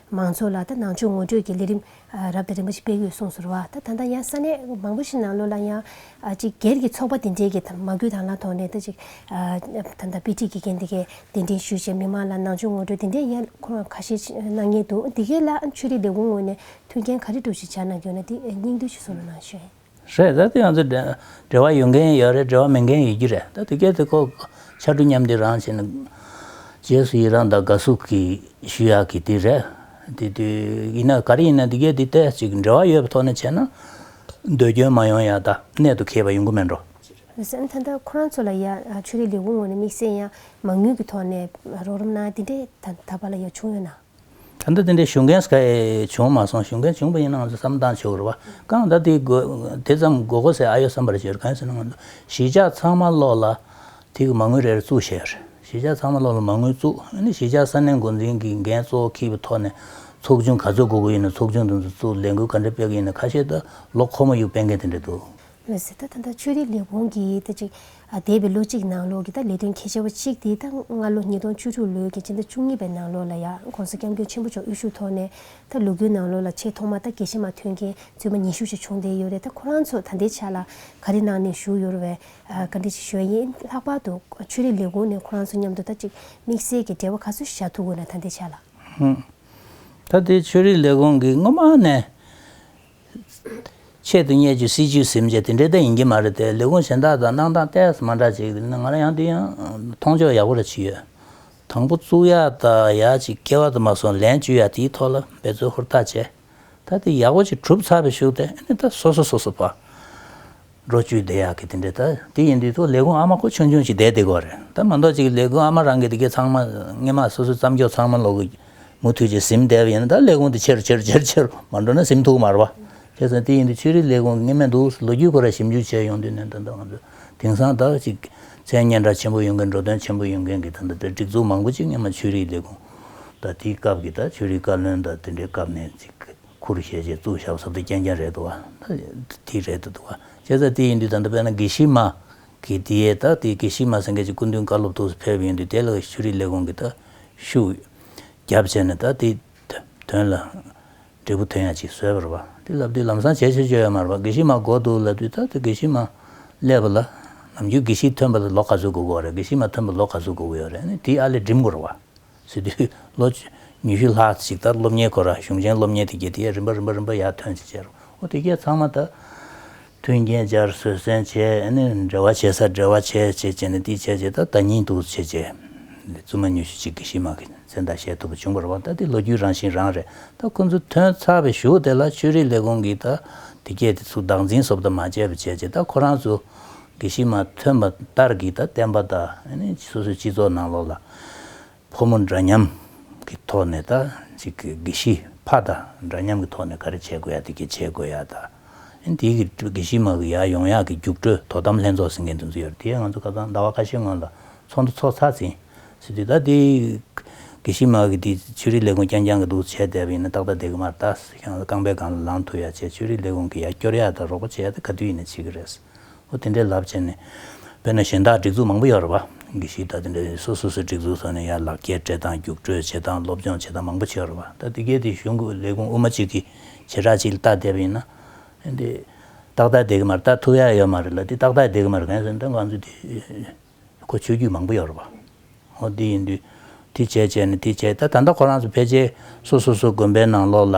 མང་ཚོགས་ལ་ད་ནང་ཆོས་ངོ་སྤྲོད་ཀྱི་ལས་རིམ་རབ་དང་རིམ་པ་ཞིག་སྤེལ་ཡོད་གསུངས་ཟུར་བ་ད་ད་ལྟ་ཡང་ས་གནས་མང་པོ་ཞིག་ནང་ལོ་ལ་ཡང་གཅིག་སྒེར་གྱི་ཚོགས་པ་དེ་འདྲའི་གིས་མ་གུས་དང་ལ་ཐོག་ནས་ད་ཅིག་ད་ད་དཔེ་ཁྲིད་ཀྱི་མཁན་དེ་གས་གདན་འདྲེན་ཞུས་བྱས་མི་མང་ལ་ནང་ཆོས་ངོ་སྤྲོད་དེ་འདྲའི་ཡ་ཁོ་རང་ཁ་ཤས་གནང་ཉེན་འདུག་འདི་གས་ལ་ཆོས་རིག་ལས་ཁུངས་ངོས་ནས་མཐུན་རྐྱེན་ག་རེ་སྒྲུབ་བྱེད་བྱ་གནང་རྒྱུ་ན་དེ་སྙིང་བསྡུས་ཤིག་གསུང་རོགས་གནང་ཞུ། རེད་ད་དེ་ང་ཚོ་འབྲེལ་བ་ཡོད་མཁན་ཡོད་རེད་འབྲེལ་བ་མེད་མཁན་ཡོད་ཀྱི་རེད་ད་དེ་སྐད་དེ་ཁོ་ཕྱར་གྲུ་མཉམ་འདི་རང་བྱས་ནས་རྗེས་སུ་ཡི་རང་དང་དགའ་བསུ་གི་ཞུ་ཡག་གི་དེ་རེད་དེ་དུས་ཡིན་ན་ག་རེ་ཡིན་ན་དེ་སྐད་དེ་ལྟས་ཅིག་འབྲེལ་བ་ཡོད་པའི་ཐོག་ནས་བྱས་ན་འདོད་སྐྱོན་མ་ཡོང་ཡག་ད་གནད་དུ་ཁེལ་བ་ཡོང་གི་མེད་འགྲོ། བསམ་ད་ལྟ་ཁོ་རང་ཚོ་ལ་ཡང་ཆོས་རིག་ལས་ཁུངས་ངོས་ནས་དམིགས་བསལ་ཡང་མང་ཉུང་གི་ཐོག་ནས་རོགས་རམ་གནང་ཡ་དེ་འདྲས་ད་བར་ལ་ཡང་བྱུང་ཡོད་ནའང། ད་ལྟ་དེ་འདྲའི་ཞུ་མཁན་བྱུང་མ་སོང་ཞུ་མཁན་བྱུང་པ་ཡིན་ན་ང་ཚོས་བསམ་བཏང་ཆོག་གི་རེད་བ་ཀང་ཟླ་དེ་དེ་ཙམ་མགོ་གོ་ཟེར་ཨ་ཡོད་བསམ་པར་བྱེད་རེད་གང་ཡིན་ཟེར་ན་ང་ཚོ་གཞིས་ཆགས་ཚང་མ་ལོག་ལ་དེ་གི་མ་དངུལ་རེ་རེ་བཙུགས་བྱས་རེད་གཞིས་ཆགས་ཚང་མ་ལོག་ལ་མ་དངུལ་བཙུགས་ཨ་ནི་གཞིས་ཆགས་ས་གནས་འགོ་འཛིན་གི་འགན་གཙོ་བོ་ཁིས་པའི་ཐོག་ནས་ཚོགས་ཆུང་ག་ཚོད་དགོ་དགོ་ཡིན་ན་ཚོགས་ཆུང་དེ་ཚོ་བཙུགས་ལས་འགུལ་ག་འདྲ་སྤེལ་གི་ཡིན་ན་ཁ་ཤས་ད་ལོ་ཁོ་མོ་ཡུག་སྤེལ་མཁན་དེ་འདྲ་འདུག་མི་སྲིད་ད་ད་ལྟ་ཆོས་རིག་ལས་ཁུངས་ཀྱིས་ད་ཅིག་འདས་པའི་ལོ་གཅིག་ནང་ལོགས་ཀྱི་ད་ལས་དོན་གལ་ཆེ་བ་གཅིག་དེ་ད་སྔ་ལོ་ཉིས་སྟོང་བཅུ་དྲུག་ལོའི་གྱི་སྤྱི་ཟླ་བཅུ་གཉིས་པའི་ནང་ལོགས་ལ་ཡང ྋགོང་ས ྋསྐྱབས་མགོན་ཆེན་པོ་མཆོག་དབུ་ཞུགས་ཐོག་ནས་ད་ལུགས་ཀྱི་ནང་ལོགས་ལ་ཆེས་ཐོག་མ་ད་དགེ་བཤེས་མ་ཐོན་མཁན་བཙུན་མ་ཉི་ཤུ་ཞིག་བྱུང་བསྡད་ཡོད་རེད་ད་ཁོ་རང་ཚོ་ད་ལྟའི་ཆ་ལ་ག་རེ་གནང་ནས་བཞུགས་ཡོད་བས་བཀའ་འདྲི་ཞིག་ཞུ་ཡིན་ལྷག་པར་དུ་ཆོས་རིག་ལས་ཁུངས་ནས་ཁོ་རང་ཚོ་མཉམ་དུ་ད་ཅིག་དམིགས་བསལ་གྱི་འབྲེལ་བ་ག་ཚོད་ཞིག་བྱ་ཐུབ་དགོས་ན་ད་ལྟའི་ཆ་ལ། ད་ལྟའི་ཆོས་རིག་ལས་ཁུངས་ཀྱིས་སྔོན་མ་ནས་ཆེད་དུ་བསྙད་ཅིག་སྲིད་ཅིག་ཟེར་བྱ་དེ་འདྲའི་ལྟ་ཡིན་གྱི་མ་རེད་དེ་ལས་ཁུངས་གཞན་དག་དང་གནང་སྟངས་སྟས་མ་འདྲ་ཅིག་ང་རང་ཡང་འདི་ཡང་མཐོང་ཕྱོགས་ཡག་པོ་རེ་བྱེད་ཡོད། དང་པོ་གཙུག་ཡག་དག་ཡག་ཅིག་སྐྱེ་བ་དུ་མ་སོང་ལན་བཅུ་ཡག་དེའི་ཐོག་ལ་འབད་རྩོལ་ཧུར་ཐག་བྱས། ད་དེ་ཡག་པོ་ཅིག་གྲུབ་ཚར་བའི་ཤུགས་དེ་ནི་ད་སོ་སོ་སོ་སོ་བ། འགྲོ་བཅུའི་བདེ་ཡག་གི་དེ་འདྲའི་ད་དེ་ཡིན་དུས་ཐོག་ལས་ཁུངས་ཨ་མ་ཁོ་ཆུང་ཆུང་ཞིག་བསྡད་དེ་གོ་རེད་ད་མ་མདོག་ཅིག་ལས་ཁུངས་ཨ་མ་རང་གི་དེ་གའི་ཚང་མ་སྔས་མ་སོ་སོའི་བརྩམས་ཆོས་ཚང་མ་ལོག་གི་མུ་མཐུད་ཅིག་ཟིམ་བསྡད་པ་ཡིན་ན་ད་ལས་ཁུངས་དེ་ཆེ་རུ་ཆེ་རུ་ཆེ་རུ་ཆེ་རུ་མ་འགྲོ་ན་ཟིམ་ཐུག་མར་བ་ཁྱེད་ཚང་དེ་ཡིན་དུས་ཆོས་རིག་ལས་ཁུངས་ཀྱི་སྔས་མ་འདུག་ཟེར་ལོ་རྒྱུས་སྐོར་ལ་ཞིབ་འཇུག་བྱས་ཡོང་དུས་ནས་ད་ད་ང་ཚོ་དེང་སང་དག་ཅིག་མཚན་སྙན་གྲགས་ཆེན་པོ་ཡོང་མཁན་འགྲོ་དོན་ཆེན་པོ་ཡོང་མཁན་གྱི་ད་ད་དེར་སྒྲིག་འཛུགས་མང་པོ་ཅིག་སྔས་མ་ཆོས་རིག་ལས་ཁུངས་ད་དེའི་སྐབས་ཀྱི་ད་ཆོས་རིག་བཀའ་བློན་ད་དེ་འདྲའི་སྐབས་ནས་ཅིག་ཁུ་རུ་ཤའི་ཆེད་བཙུགས་ཞབས་ཟབ་ཏུ་རྐྱེན་རྐྱང་རེད་འདུག་བ། དེ་རེད་འདུག་བ། བྱས་ཙང་དེ་ཡིན་དུས་ད་ལྟ་བལ་ན་དགེ་བཤེས་མ། གིས་དེ་ཡས་ད་དེ་དགེ་བཤེས་མ་སེང་གེ་ཆེ་སྐུ་མདུན་བཀའ་སློབ་ཐུགས་སུ་ཕེབས་ཡོང་དུས་དེ་ལ་ཤུ་རིག་ལས་ཁུངས་ཀྱི་ད། ཤུགས། རྒྱབ་བྱས་ནས་ད་དེ། དོན་ལ། འབྲས་བུ་དོན་ཡང་ཅིག་བཟོས་པར་བ། དེ་ལབ་དུས་ལམ་སང་བྱས་ཆོས་བཅོས་ཡོད་མར་བ་དགེ་བཤེས་མ་དགོ་འདུག་ལབ་དུས་ད་དེ་དགེ་བཤེས་མ། སླེབས་པ་ལ། ནམ་རྒྱུན་དགེ་བཤེས་ཐོན་པ་ལ་ལོ་ག་ཚོད་དགོ་གི་བ་རེད་དགེ་བཤེས་མ་ཐོན་པ་ལོ་ག་ཚོད་དགོ་གི་ཡོད་རེད་ནས་དེའི་ཨ་ལས་འགྲིམ་དགོ་རུ་བ། ཚུལ་དུས་ལོ་ཉི་ཤུ་ལྷག་ཅིག་ལྟར་སློབ་གཉེར་ཁོ་རང་གཞུང་ཆེན་སློབ་གཉེར་དེ་གའི་དེའི་རིམ་པ་རིམ་པ་རིམ་པ་ཡར་ཐོན་བྱེད་ཆེད་རོགས་དེ་གའི་ཚང་མ་དང་མཐུན་རྐྱེན་སྦྱར་བཟོད་བསྲན་བྱས་ནས་འབྲེལ་བ་བྱེད་སར་འབྲེལ་བ་བྱས་བྱས་བྱས་ནས་དེའི་བྱས་བྱས་ད་ལྟ་ཉིད་དུ་བྱས་བྱས་ནས་བཙུན་མ་ཉི་ཤུ་ཅིག་གིས་གཞི་མ་གི་མཚན་བརྡ་བཞེས་ཐུབ་པ་བྱུང་བར་བ་ད་དེ་ལོ་རྒྱུས་རང་བཞིན་རང་རེད་ད་ཁོ་ཚོ་ཐོན་ཚར་བའི་གཞུག་དེ་ལ་ཆོས་རིག་ལས་ཁུངས་ཀྱིས་ད་དེ་གའི་དེ་ཚོ་བདག་འཛིན་བཟོ་བདའ་མ་བྱས་པ་བྱས་བྱས་ད་ཁོ་རང་ཚོ་གི་གཞི་མ་ཐོན་པ་ལྟར་གྱི་ད་བསྟན་པ་ད་སོ་སོའི་སྤྱི་ཚོགས་ནང་ལོགས་ལ། ཕོ་མོ་འདྲ་མཉམ་གྱི་ཐོག་ནས་ད་ཅིག་གི་དགེ་བཤེས་ཕ་ད་འདྲ་མཉམ་གྱི་ཐོག་ནས་ག་རེ་བྱེད་དགོས་ཡ་དེ་གས་བྱེད་དགོས་ཡ་ད་ཨིན་དེ་གི་དགེ་བཤེས་མ་གི་ཡ་ཡོང་ཡ་གི་རྒྱུགས་སྤྲོད་དོ་དམ་ལྷན་ཚོགས་ཟིན་མཁན་དེ་ཚོ་ཡོད་རེད་དེ་ཡས་ང་ཚོ་ཁ་སང་ཟླ་བ་ཁ་ཤས་སྔོན་ལ་ཚོགས་འདུ་ཚོགས་ཚར་ཟིན་ཟིན་དུས་ད་དེ་དགེ་བཤེས་མ་གི་དེ་ཆོས་རིག་ལས་ཁུངས་རྐྱང་རྐྱང་གི་འདུག་བྱས་བསྡད་པ་ཡིན་ན་ཏག་ཏག་བསྡད་གི་མ་རེད་ད་ཁྱེད་རང་ཚོ་རྐང་པའི་སྒང་ལ་ལངས་ཐུབ་ཡ་བྱས་ཆོས་རིག་ལས་ཁུངས་གི་ཡ་སྐྱོར་ཡ་ད་རོགས་པ་བྱས་ཡ་ད་ག་དུས་ཡིན་ན་བྱེད་གི་རེད་ཨོ་དེ་འདྲའི་ལབ་བྱས་ནས། དཔེར་ན་གཞན་དག་སྒྲིག་འཛུགས་མང་པོ་ཡོད་རེད་བ། གི་ཞིག་ད་དེ་འདྲ་ཡོད་སོ་སོ་སོའི་སྒྲིག་འཛུགས་སོགས་ནས་ཡར་ལག་ཁྱེར་སྤྲད་སྟངས་རྒྱུགས་སྤྲོད་བྱེད་སྟངས་སློབ་སྦྱོང་བྱེད་སྟངས་མང་པོ་བྱས་ཡོད་རེད་བ། ད་དེ་གའི་དེ་གཞུང་གི་ལས་ཁུངས་དབུ་མ་གཅིག་གིས་བྱེ་བྲག་གཅིག་ལ་བལྟ་བསྡད་པ་ཡིན་ན། ཨེ་འདི། ཏག་ཏག་བསྡད་གི་མ་རེད་བལྟ་ཐུབ་ཡ་ཡོད་མ་རེད་ལ་དེ་ཏག་ཏག་བསྡད་གི་མ་རེད་གན་ཟེར་ན་ད་གང་ཚུད་དེ། ཁོ་ཆོད་རྒྱུ་མང་པོ་ཡོད་རེད་བ། ཨོ་དེ་ཡིན་དུས། དེ་བྱས་བྱས་ནས་དེ་བྱས་ད་ད་ལྟ་ཁོ་རང་ཚོ་ཕལ་ཆེར་སོ་སོ་སོའི་དགོན་པའི་ནང་ལོགས་ལ།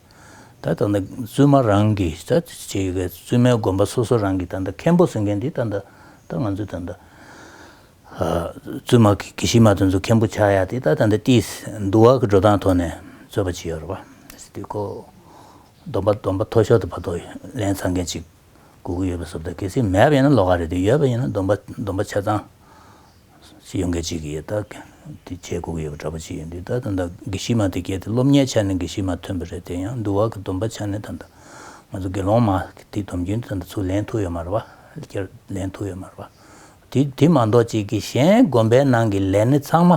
ད་ལྟ་ན་བཙུན་མ་རང་གི་ད་ལྟ་བྱེད་ཡོད་པའི་བཙུན་མའི་དགོན་པ་སོ་སོ་རང་གི་ད་ལྟ་མཁན་པོ་ཟེར་མཁན་དེ་ད་ལྟ་ད་ང་ཚོས་ད་ལྟ་བཙུན་མ་གི་གི་གཞི་མ་དེ་ཚོ་མཁན་པོ་ཆགས་ཡ་དེ་ད་ལྟ་ད་ལྟ་ཏིས་འདུ་བ་གི་འགྲོ་སྟངས་ཐོག་ནས་རྩོད་པ་བྱེད་ཡོད་རེད་པ། སྟེ་ཁོ་སྡོམ་པ་སྡོམ་པ་མཐོ་ཤོར་དུ་བར་དོ་ལན་ཚང་མཁན་ཅིག་དགོས་ཀྱི་ཡོད་པ་བསོབ་ད་གལ་སྲིད་མེད་པ་ཡིན་ན་ལོག་ཁ་རེད་དེ་ཡོད་པ་ཡིན་ན་སྡོམ་པ་སྡོམ་པ་ཆ་ཚང་ཡོང་མཁན་གཅིག་ཡོད་ད་གེ། དེ་ཁྱེད་སྒུག་ཡོད་པ་འདྲ་པོ་གཅིག་ཡོད་འདུག་ད་ད་ལྟ་དགེ་བཤེས་མ་དེ་གལ་ཏེ་སློབ་གཉེར་ཆ་ནས་དགེ་བཤེས་མ་ཐོན་པ་རེད་དེ་ཡང་འདུལ་བ་གི་སྡོམ་པ་ཆ་ནས་ད་ད་ང་ཚོ་དགེ་སློང་མ་དེ་སྡོམ་རྒྱུན་དེ་ད་ད་ཚུར་ལེན་ཐུབ་ཡོད་མ་རེད་པ་ཁྱེར་ལེན་ཐུབ་ཡོད་མ་རེད་པ། དེ་དེ་མ་འདོག་ཅིག་གི་གཞན་དགོན་པའི་ནང་གི་ལས་སྣེ་ཚང་མ་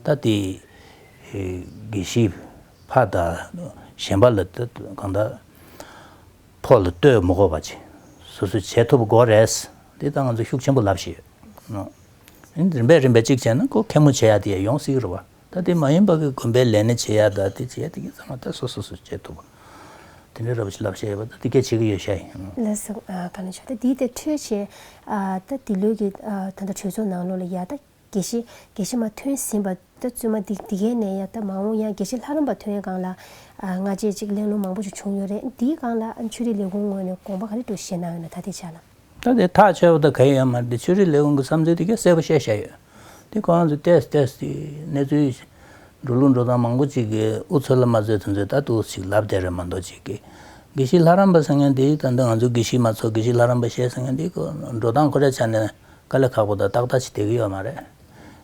ད་དེ་དགེ་བཤེས་ཕ་ད་གཞན་པ་ལ་ད་གང་ད། ཐོག་ལ་ལྟོས་མོ་གོ་བ་བྱེད། སོ་སོས་བྱེད་ཐུབ་གོ་རེད། འདི་ད་ང་ཚོས་ཤུགས་ཆེན་པོ་ལབ་བཞིན་ཡོད། ཨང། རིམ་པས་རིམ་པས་གཅིག་བྱས་ན་ཁོ་མཁན་མོ་བྱེད་ཡ་དེ་ཡ་ཡོང་སྲིད་རོ་བ། ད་དེ་མ་ཡིན་པ་གི་དགོན་པའི་ལས་ནི་བྱེད་ཡ་ད་དེ་བྱེད་ཡ་དེ་གི་ཚང་མ་ད་སོ་སོ་སོས་བྱེད་ཐུབ། དེ་འདྲའི་ར་བ་ཞིག་ལབ་བཞིན་ཡོད་པ་ད་དེ་གས་བྱེད་གི་ཡོད་ཤ་ཡིན། ལ་ཟེར། ག་ན་ཆོག་ད་དེའི་ཐད་འཕྲོས་བྱས། ད་དེ་ལོས་གི་ད་ད་གྲོས་ཚོགས་ནང་ལོགས་ལ་ཡ་ད། དགེ་བཤེས། དགེ་བཤེས་མ་ཐོན་ཟིན་པ། ད་བཙུན་མ་འདི་འདི་གའི་ནས་ཡ་ད་མ་འོང་ཡང་དགེ་བཤེས་ལྷ་རམས་པ་ཐོན་སྒང་ལ། སྔ་རྗེས་ཅིག་གླེང་སློང་མང་པོ་ཞིག་བྱུང་ཡོད་རེད་འདིའི་སྒང་ལ་ཆོས་རིག་ལས་ཁུངས་ངོས་ནས་དགོངས་པ་ག་རེ་འདུག་ཤེས་ན་འོན་ན་ད་ལྟའི་ཆ་ལ། ད་དེ་ཐག་ཆོད་པ་དང་ག་ཡོད་ཡང་མ་རེད་དེ་ཆོས་རིག་ལས་ཁུངས་ཀྱི་བསམ་ཚུལ་དེ་གས་གསལ་པོ་བཤད་བཞག་ཡོད་དེ་གོང་དུ་བལྟས་སུ་བལྟས་སུ་དེའི་གནས་ཚུལ་ཞིག་འགྲོ་ལུགས་འགྲོ་སྟངས་མང་པོ་ཅིག་གི་འུ་ཚོ་ལ་མ་རྩོད་དེ་ཚོས་ད་ཏུག་ཅིག་ལབ་བསྡད་རེད་མ་འདོག་ཅིག་གིས། དགེ་བཤེས་ལྷ་རམས་པ་ཟེར་མཁན་འདིས་ད་ནི་ང་ཚོའི་དགེ་བཤེས་མ་ཚོ་དགེ་བཤེས་ལྷ་རམས་པ་བཤད་ཟེར་མཁན་འདིའི་འགྲོ་སྟངས་ཁོ་རའི་ཆ་ནས། དཀའ་ལས་ཁག་པོ་དང་ཏག་ཏག་ཅིག་སྡད་གི་ཡོད་མ་རེད།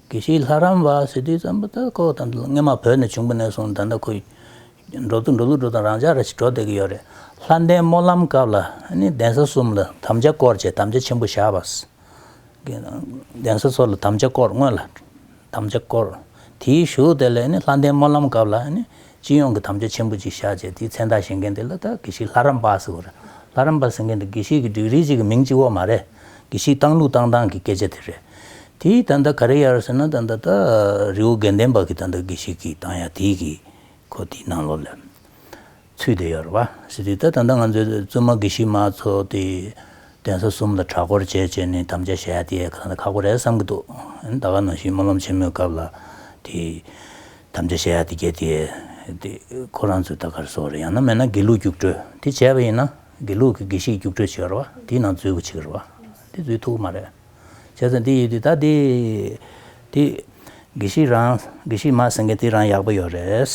གི་ཤིའི་ལྷ་རམས་པ་ཟེར་དུས་ཙམ་པོ་ད་ཀོ་ད་སྔན་མ་བོད་ནས་བྱུང་པོ་ནས་བཟུང་ད་ནི་ཁོའི། འགྲོ་དུས་འགྲོ་ལུགས་འགྲོ་དང་རང་འཇགས་རེ་ཞིག་འགྲོ་སྡད་གི་ཡོད་རེད། ལྷ་ལྡན་སྨོན་ལམ་སྐབས་ལ་ནི་གདན་ས་གསུམ་ལ་དམ་བཅའ་བསྐོར་བཅས་དམ་བཅའ་ཆེན་པོ་བཞག་པ། གདན་ས་ཚོ་ལ་དམ་བཅའ་བསྐོར་སྔོན་ལ། དམ་བཅའ་བསྐོར། དེའི་གཞུག་དེ་ལས་ནི་ལྷ་ལྡན་སྨོན་ལམ་སྐབས་ལ་ནི་སྤྱི་ཡོངས་ཀྱི་དམ་བཅའ་ཆེན་པོ་གཅིག་བཞག་ཅེས་དེའི་མཚན་རྟགས་བཞེངས་མཁན་དེ་ལ་ད་གེ་ཤིག་ལྷ་རམས་པ་ཟེར་བ་རེད། ལྷ་རམས་པ་ཟེར་མཁན་དེ་གེ་ཤིག་གི་འགྲིག་རིས་གཅིག་གི་མིང་གཅིག་བོ་མ་རེད། གེ་ཤིག་བཏང་ལུགས་བཏང་སྟངས་ཀྱི་སྐད་ཆ་དེ་རེད། དེའི་ད་ལྟ་ག་རེ་ཡར་ཟེར་ན་ད་ད་ད་རི་བོ་དགེ་ལྡན་པ་གི་ད་ད་གེ་ཤིག་གི་བཏང་ཡ་དེའི་གི་གོ་དེའི་ནང་ལོགས་ལས། ཚུལ་དེ་ཡོད་རེད་བ། ཞེས་དུས་ད་ལྟ་ང་ཚོའི་བཙུན་མ་དགེ་བཤེས་མ་ཚོ་དེ་གདན་ས་གསུམ་ལ་གྲྭ་སྐོར་བྱས་བྱས་ནས་དམ་བཅའ་བཞག་ཡ་དེ་གང་ལ་ཁག་པོ་རེད་བསམ་གྱི་འདུག་ད་ག་ནང་བཞིན་སྨོན་ལམ་ཆེན་མོའི་སྐབས་ལ་དེ་དམ་བཅའ་བཞག་ཡ་དེ་བརྒྱད་དེ་དེ་ཁོ་རང་ཚོས་ད་གར་བཟོ་བ་རེད་ཡང་ན་མེད་ན་དགེ་ལུགས་རྒྱུགས་སྤྲོད་དེ་བྱས་པ་ཡིན་ན་དགེ་ལུགས་ཀྱི་དགེ་བཤེས་རྒྱུགས་སྤྲོད་བྱས་པ་རེད་བ་དེའི་ནང་འཛུལ་དགོས་ཆེ་གི་རེད་བ་དེ་འཛུལ་ཐུབ་ཀྱི་མ་རེད། བྱས་ཙང་འདི་ཡོད་དུས་ད་དེ། དེ། དགེ་བཤེས་རང། དགེ་བཤེས་མ་ཟེར་མཁན་དེ་རང་ཡག་པོ་ཡོད་རེད།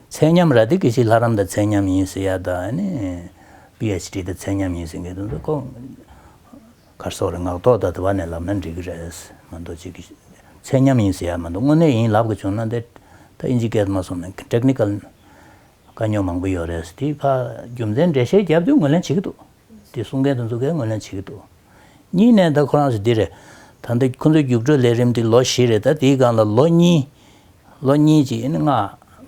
ཚད་མཉམ་ར་དེ་དགེ་བཤེས་ལྷ་རམས་དང་ཚད་མཉམ་ཡིན་ཟེར་ཡ་ད། PHD དང་ཚད་མཉམ་ཡིན་ཟེར་མཁན་དེ་ཚོ་ཀོ། གར་སོགས་རེད་ངག་ཐོག་ད་དེ་བ་ནས་ལབ་ན་འགྲིག་གི་རེད། མ་མདོ་ཅིག་གིས། ཚད་མཉམ་ཡིན་ཟེར་ཡ་མ་མདོ་དངོས་གནས་ཡིན་ལབ་གི་བྱུང་ན་དེ། ད་ཨིན་ཇི་སྐད་མ་སོང་ན Technical། དཀའ་རྙོག་མང་པོ་ཡོད་རེད། དེ་ཕ་རྒྱུ་མཚན་འགྲེལ་བཤད་རྒྱབ་དུས་ངོས་ལེན་བྱེད་ཀྱི་འདུག། དེ་གསུང་མཁན་དང་འཛུགས་མཁན་ངོས་ལེན་བྱེད་ཀྱི་འདུག་གཉིས་ནས་ད་ཁོ་རང་ཚོ་འདི་རེད། ད་འདི་ཁོ་ཚོའི་རྒྱུགས་སྤྲོད་ལས་རིམ་འདི་ལོ་བཞི་རེད་ད་དེའི་སྒང་ལ་ལོ་གཉིས། ལོ་གཉིས་ཀྱི་ཨེ་ནི་ལྔ་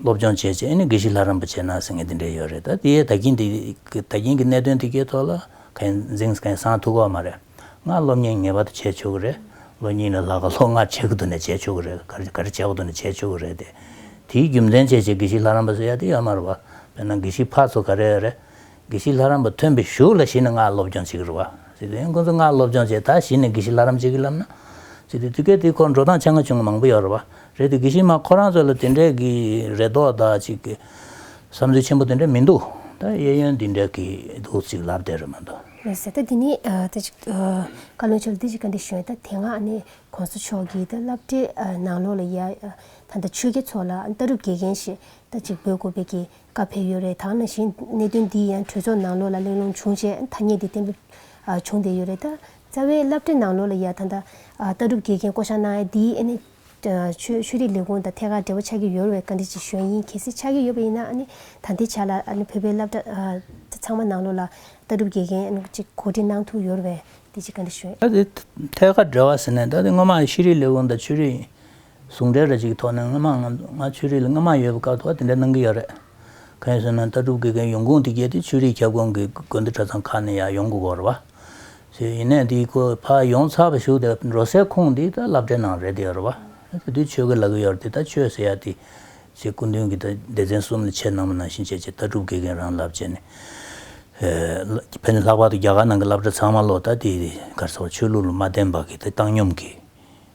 སློབ་སྦྱོང་བྱས་རྗེས་ཨེ་ནི་དགེ་བཤེས་ལྷ་རམས་པ་བྱས་ན་ཟེར་མཁན་དེ་འདྲས་ཡོད་རེད་ད་དེའི་ད་གིན་འདི་ད་གིན་གྱི་གནད་དོན་འདི་གའི་ཐོག་ལ་ག་ཡིན་འཛིངས་ག་ཡིན་བཟང་ཐུག་གོ་མ་རེད། ལྔ་སློབ་གཉེར་ངེས་པར་དུ་བྱས་ཆོག་གི་རེད། ལོ་གཉིས་ལ་ལྷག་ག་ལྷོ་ལྔ་བྱས་ཀྱི་འདུག་ནས་བྱས་ཆོག་གི་རེད་ག་རེ་བྱས་ཀྱི་འདུག་ནས་བྱས་ཆོག་གི་རེད་དེ། དེའི་རྒྱུ་མཚན་བྱས་རྗེས་དགེ་བཤེས་ལྷ་རམས་པ་ཟེར་ཡ་དེ་ཡོད་མ་རེད་བ། དཔེར་ན་དགེ་བཤེས་ཕ་ཚོ་ག་རེ་རེད། དགེ་བཤེས་ལྷ་རམས་པ་ཐོན་པའི་ཞོར་ལ་གཞི་ནས་སྔགས་སློབ་སྦྱོང་བྱེད་ཀྱི་རུ་བ། སི་ཏུ་ཡང་ཁོ་ཚོ་སྔགས་སློབ་སྦྱོང་བྱས་ད་གཞི་ནས་དགེ་བཤེས་ལྷ་རམས་བྱེད་ཀྱི་ལབ་ན། སི་ཏུ་དུས་སྐལ་དེའི་ཁོར་འགྲོ་སྟངས་ཆ་ང་ཆུང་ང་མང་པོ་ཡོད་རུ་བ། རེད་དུས་དགེ་བཤེས་མ་ཁོ་རང་ཚོ་ལ་དེ་འདྲའི་གི་རེ་དོགས་དག་ཅིག་གི་བསམ་ཚུལ་ཆེན་པོ་དེ་འདྲ་མི་འདུག་ད་གཡས་གཡོན་འདི་འདྲ་གི་འདུག་ཅིག་ལབ་བསྡད་རུ་མི་འདུག། རེད་ཟེར་ད་དེ་ནི་ད་ཅིག་བཀའ་བློན་མཆོག་ལ་དེ་ཅིག་ག་འདྲ་ཞུ་ཡང་ད་དེ་སྔ་ནི་གོང་ས་མཆོག་གིས་ད་བསླབ་གྲྭའི་ནང་ལོགས་ལ་ཡ་ད་ད་ཆོས་རྒྱལ་ཚོགས་ལ་ད་རུབ་དགེ་རྒན་ཞེས་ད་ཅིག་འབོད་དགོས་པའི་གི་བཀའ་ཕེབས་ཡོད་རེད་ད་ནང་བཞིན་གནད་དོན་འདི་ཡང་གྲོས་ཚོགས་ནང་ལོགས་ལ་གླེང་སློང་བྱུང་བྱས་ཐ་སྙད་དེ་བརྟན་པོ་བྱུང་བསྡད་ཡོད་རེད་ད་རྩ་བའི་བསླབ་བྲིད་ནང་ལོགས་ལ་ཡ་ད་ད་ལྟ་གྲུབ་དགེ་རྒན་བསྐོ་བཞག་གནང་ཡ་འདིས་ཨ་ནི་ཆོས་ཆོས་རིག་ལས་ཁུངས་དང་ཐད་ཀར་འབྲེལ་བ་ཆགས་ཀྱི་ཡོད་བས་བཀའ་འདྲི་ཅིག་ཞུ་ཡ་ཡིན་གལ་སྲིད་ཆགས་ཀྱི་ཡོད་པ་ཡིན་ན་ཨ་ནི་ད་ལྟའི་ཆ་ལ་ཨ་ནི་བོད་པའི་བསླབ་གྲྭ་ཚང་མ་ནང་ལོགས་ལ་ལྟ་གྲུབ་དགེ་རྒན་ཅིག་གོ་སྒྲིག་གནང་ཐུབ་ཡོད་བས་འདི་ཅིག་བཀའ་འདྲི་ཞུ། ད་དེ་ཐད་ཀར་འབྲེལ་བ་ཟེར་ནས་ད་དེ་སྔོན་མ་ཤེས་རིག་ལས་ཁུངས་དང་ཆོས་རིག་ཟུང་འབྲེལ་རེ་ཞིག་གི་ཐོག་ནས་སྔོན་མ་ང་ང་ཆོས་རིག་ལ་སྔོན་མ་ཡོད་པའི་སྐབས་ཐོག་དེ་འདྲ་གནང་གི་ཡོད་རེད། གང་ཡིན་ཟེར་ན་ལྟ་གྲུབ་དགེ་རྒན་ཡོང་ཁུངས་དེ་བརྒྱད་དེ་ཆོས་རིག་ཁྱབ་ཁོངས་ཀྱི་དགོན་སྡེ་གྲྭ་ཚང་ཁག་ནས་ཡང་ཡོང་གི་འོར་བ། ཞེས་ཡིན་ནས་དེའི་སྐོར་ཕ་ཡོངས་ཚགས་པར་ཞུགས་ཏེ་འགྲོ་སའི་ཁུངས་དེ་ད་ལབ་འབྲས་གནང་རེད་དེ་འོར་བ། དེ་དུས་ཆོས་ཀྱི་ལག་གི་ཡོར་དེ་ད་ཆོས་ཟེར་ཡ་དེ། ཞེས་སྐུ་མདུན་གྱི་ད་སྡེ་ཚན་གསུམ་ལ་ཆེས་ནང་པ་ནང་བཞིན་བྱས་རྗེས་ལྟ་གྲུབ་དགེ་རྒན་རང་ལབ་བྱས་ནས། ཕན་ཚུན་ལྷག་པར་དུ་རྒྱ་གར་ནང་གི་ལབ་གྲྭ་ཚང་མ་ལོག་ད་དེ་གར་ཚོར་ཆོས་ལུགས་ལ་མ་བརྟེན་པ་གི་ད་བཏང་སྙོམས་ཀྱི།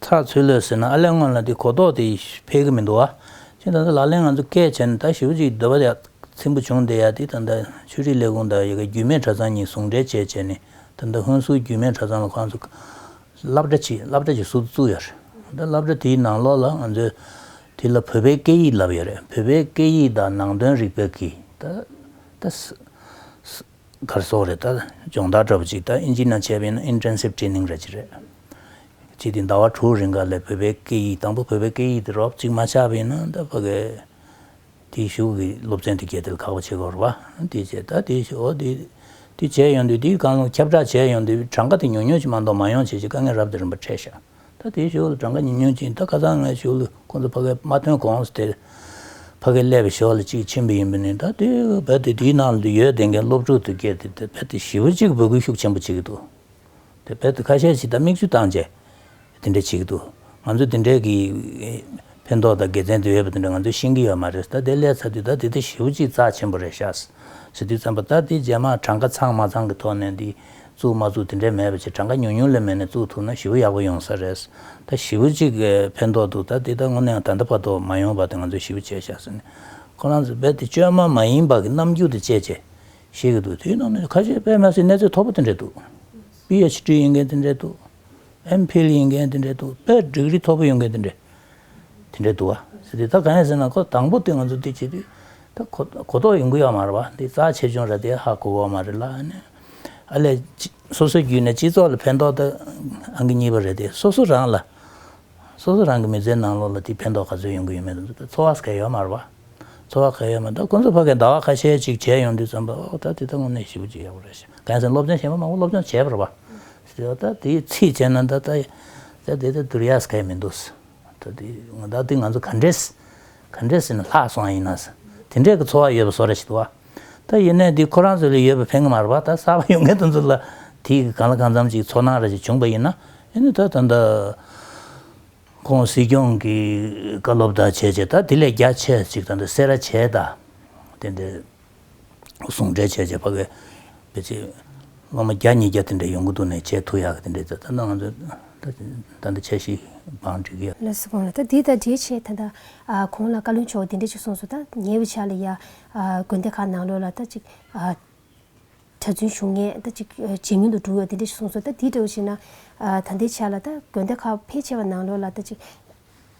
ཚགས་ཚུད་ལོས་ཟེར་ན་ཨ་ལས་སྔོན་ལ་དེ་གོ་རྟོགས་དེ་ཕེལ་གི་མི་འདུག་བ། ཕྱིན་ད་ལྟ་ལག་ལེན་ང་ཚོ་སྐད་བྱས་ནས་ད་ཞི་བུ་ཅིག་འདོད་པ་ཡ། ཚིམ་བུ་བྱུང་དེ་ཡ་དེ་ད་ལྟ་ཆོས་རིག་ལས་ཁུངས་དང་ཡི་གེ་རྒྱུས་མེད་གྲྭ་ཚང་གཉིས་ཟུང་འབྲེལ་བཅས་བྱས་ནས་ད་ལྟ་ཧོན་སུར་རྒྱུས་མེད་གྲྭ་ཚང་ལ་ཁོང་ཚོ་སླབ་གྲྭ་གྱིས་སླབ་གྲྭ་གྱི་ཟུར་དུ་བཙུགས་ཡོད་རེད་ད་སླབ་གྲྭ་དེའི་ནང་ལོགས་ལ་ང་ཚོས་དེ་ལ་བོད་པའི་སྐད་ཡིག་ལབ་ཡོད་རེད་བོད་པའི་སྐད་ཡིག་དང་ནང་དོན་རིག་པའི་གིས་ད་ད། གར་སོགས་རེད་ད། སྦྱོང་བརྡར་འདྲ་པོ་གཅིག་ད་ཨིན་ཇི་ན་བྱས་པའི་ནང Intensive Training རེད་ཅིག་རེད། གཅིག་དེ་ཟླ་བ་དྲུག་རིང་ག་ལེར་བོད་པའི་སྐད་ཡིག་དང་པོ་བོད་པའི་སྐད་ཡིག་དེ་རོབ་ཅིག་མ་ཆགས་པའི་ནང་ད་བོད་སྐད་དེ་བཞུགས་གི་སློབ་ཚན་དེ་གལ་ཏེ་ཁག་པོ་བྱེད་དགོས་རེད་བ། དེ་བྱས་ད་དེ་བྱས་འོ་དེ་དེ་བྱས་ཡོང་དུས་དེ་གང་ཁྱབ་བསྒྲགས་བྱས་ཡོང་དུས་གྲངས་ཀ་དེ་ཉུང་ཉུང་ཅིག་མ་གཏོགས་མ་ཡོང་བྱས་ཅིག་དཀའ་ངལ་རབ་དེ་རིམ་པར་འཕྲད་ཤག། ད་དེའི་ཞོར་དུ་གྲངས་ཀ་ཉིན་ཉུང་ཅིག་ད་ཁ་སང་ང་ཞོར་ལུགས་ཁོང་ཚོ་ཕ་གིའི་མ་ཐོན་གོང་སོ་དེར་ཕ་གིའི་ཀླད་པའི་ཞོར་ལ་གཅིག་ཕྱིན་པ་ཡིན་པ་ནི་ད་དུས་བལ་དེ་དུས་ནང་དུ་ཡོད་དེ་འགན་སློབ་ཕྲུག་ཏུ་སྐྱེས་ཏེ་དེ་བལ་དེ་བཞི་བོ་གཅིག་འབོད་སྐུལ་ཤུགས་ཆེན་པོ་བྱེད་ཀྱི་འདུག་དེ་བལ་དུ་ཁ་ཤས་ཤིག་ད་མིག་ཆུ་བཏང་རྗེས་དེ་འདྲ་བྱེད་ཀྱི་འདུག་ང་ཚོ་དེ་འདྲའི་གི་ཕན་ཐོག་དང་དགེ་མཚན་དེ་ཡོད་པ་དེ་འདྲ་ང་ཚོས་ཤེས་ཀྱི་ཡོད་མ་རེད་ད་དེ་ཀླད་ཚ་དུས་ད་དེ་དེ་བཞི་བོ་གཅིག་རྩ་ཆེན་པོ་རེད་ཤག་ཟེར་དུས་བརྩམས་པ་ད་དེ་རྗེས་མ་གྲངས་ཀ་ཚང་མ་ཚང་གི་ཐོག་ནས་འདི་བཙུགས་མ་བཙུགས་དེ་འདྲའི་མེད་པ་ཆེ་གྲངས་ཀ་ཉུང་ཉུང་ལས་མེད་ནས་བཙུགས་ཐུབ་ན་ཞི་བོ་ཡག་པོ་ཡོང་ས་རེད། ད་ཞི་བོ་གཅིག་ཕན་ཐོགས་འདུག་ད་འདི་ལྟར་དངོས་གནས་ཡང་ད་ལྟ་བར་དུ་མ་ཡོང་བར་དུ་ང་ཚོས་ཞི་བོ་བྱས་བཞག་ཟེར་ནས་ཁོ་རང་ཚོས་རྦད་དེ་བཅོས་མ་མ་ཡིན་པ་གི་རྣམ་འགྱུར་དུ་བཅད་བཅད་བཤད་ཀྱི་འདུག་དེའི་ནང་ནས་ཁ་ཤས་པད་མ་སིའི་གནས་ཚད་མཐོ་པོ་དེ་འདྲས་འདུག PHD ཡིན་མཁན་དེ་འདྲས་འདུག M Phil ཡིན་མཁན་དེ་འདྲས་འདུག་དཔེར་སྒྲིག་རིགས་མཐོ་པོ་ཡོད་མཁན་དེ་འདྲས་དེ་འདྲས་འདུག་བ་དེ་ད་གང་ཡིན་ཟེར་ན་ཁོ་དང་པོ་དེ་ང་ཚོས་འདི་བྱེད་དུས་ད་གོ་གོ་རྟོགས་ཡོང་གི་ཡོད་མ་རེད་བ་འདི་རྩ་ཆེ་ཆུང་རེད་དེ་ཧ་གོ་བོ་མ་རེད་ལ་ཨ་ནི་ཨ་ལས། སོ་སོའི་རྒྱུད་ནས་སྤྱི་ཚོགས་ལ་ཕན་ཐོགས་དེ་ཨང་གི་གཉིས་པ་རེད་དེ་སོ་སོ་རང་ལ། སོ་སོ་རང་གི་མི་ཚེའི་ནང་ལོགས་ལ་དེ་ཕན་ཐོགས་ག་ཚོད་ཡོང་གི་ཡོད་མེད་དེ་འཚོ་བ་ག་ཡོད་མར་བ། འཚོ་བ་ག་ཡོད་མ་ད་ཁོ་ཚོ་ཕ་གིས་ཟླ་བ་ཁ་ཤས་ཅིག་བྱས་ཡོང་དུས་བརྩམས་པ་ཨོ་ད་དེ་ད་དངོས་གནས་ཞེ་པོ་ཅིག་ཡག་པོ་རེད་ཞེ་གང་ཡིན་ཟེར་སློབ་སྦྱོང་བྱས་པ་མང་བོ་སློབ་སྦྱོང་བྱས་པར་བ། ད་དེའི་ཚིག་བྱས་ན་ད་ད་ད་དེ་ད་དུར་ཡག་ག་ཡོད་མི་འདུག། ད་དེ་ང་ད་དེ་ང་ཚོ་ག་འདྲའི་ག་འདྲའི་ཟེར་ན་ལྷག་སོང་ཡིན་ན་ཟེར་དེ་འདྲའི་གི་འཚོ་བ་ཡོད་པ་བཟོ་ར་ཞིག་འདུག་བ་ད་ཡིན་ན་དེ་ཁོ་རང་ཚོ་ལས་ཡོད་པ་ཕན་གི་མ་རེད་བ་ད་གསར་བ་ཡོང་མཁན་དེ་ཚོ་ལ་དེ་གི་གང་ལ་གང་འཚམ་ཅིག་ཚོར་སྣང་ར་ཞིག་བྱུང་བ་ཡིན་ན་ཡིན་ན་ད་ད་ད་ཁོང་སྲིད་སྐྱོང་གི་བཀའ་སློབ་ད་བྱས་བྱས་ད་དེ་ལས་རྒྱ་ཆེ་ཞིག་ད་ད་སེ་ར་བྱས་ད་དེ་འདྲའི། ཟུང་འབྲེལ་བྱས་བྱས་བ་གའི་བུ་ཚའི་སློབ་མ་བརྒྱ་ཉིས་བརྒྱ་དེ་འདྲ་ཡོང་གི་འདུག་ནས་བྱས་ཐུག་ཡག་གི་དེ་འདྲ་ད་ད་ང་ཚོ་ད་ད་ཆ་ཤི་བང་བྲིས་གི། ལོས་སུ་གང་ལ་ད་འདི་ད་འདྲའི་ཆེ་ད་ད་གང་ལ་བཀའ་བློན་མཆོག་དེ་འདྲས་ཅིག་གསུངས་སུ་ད་ཉེ་བའི་ཆ་ལ་ཡ་དགོན་སྡེ་ཁག་ནང་ལོས་ལ་ད་ཅིག་གྲ་རྫུན་བྱུང་ངས་ད་ཅིག་ཇེ་ཉུང་དུ་འགྲོ་ཡོད་དེ་འདྲས་ཅིག་གསུངས་སུ་ད་འདི་འདྲ་བ་ཞིག་ན་ད་ལྟའི་ཆ་ལ་ད་དགོན་སྡེ་ཁག་ཕལ་ཆེ་བ་ནང་ལོས་ལ་ད་ཅིག་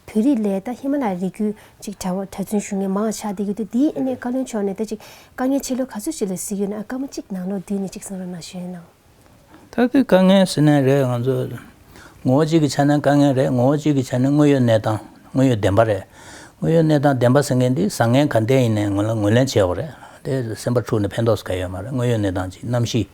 བོད་རིགས་ལས་ད་ཧི་མ་ལ་ཡའི་རིགས་རྒྱུད་ཅིག་གྲྭ་བ་གྲྭ་བཙུན་ཞུ་ངེས་མང་ཆགས་བསྡད་ཡོད་དུས་འདིའི་ཨེ་ནས་བཀའ་བློན་མཆོག་ནས་ད་ཅིག་དཀའ་ངལ་ཕྱི་ལོ་ག་ཚོད་ཅིག་ལ་གཟིགས་ཡོད་ན་དཀའ་མོ་ཅིག་ནང་ལོ་བདུན་ནས་ཅིག་གསང་ར་ན་ཞུས་ཡོད་ནའང། ད་གི་དཀའ་ངལ་ཟེར་ནའི་རེད་ང་ཚོ་ངོ་བོ་གཅིག་གི་ཆ་ནས་དཀའ་ངལ་རེད་ངོ་བོ་གཅིག་གི་ཆ་ནས་དངོས་ཡོད་གནས་སྟངས་དངོས་ཡོད་བདེན་པ་རེད་དངོས་ཡོད་གནས་སྟངས་བདེན་པ་ཟེར་མཁན་འདི་བཟང་ངན་ག་འདྲས་ཡིན་ནའི་ངོས་ལ་ངོས་ལེན་བྱས་བ་རེད་དེ་སེམས་པ་འཁྲུག་ནས་ཕན་ཐོགས་སུ་ག་ཡོད་མ་རེད་དངོས་ཡོད་གནས་སྟངས་ཅིག་གནམ་གཤིས་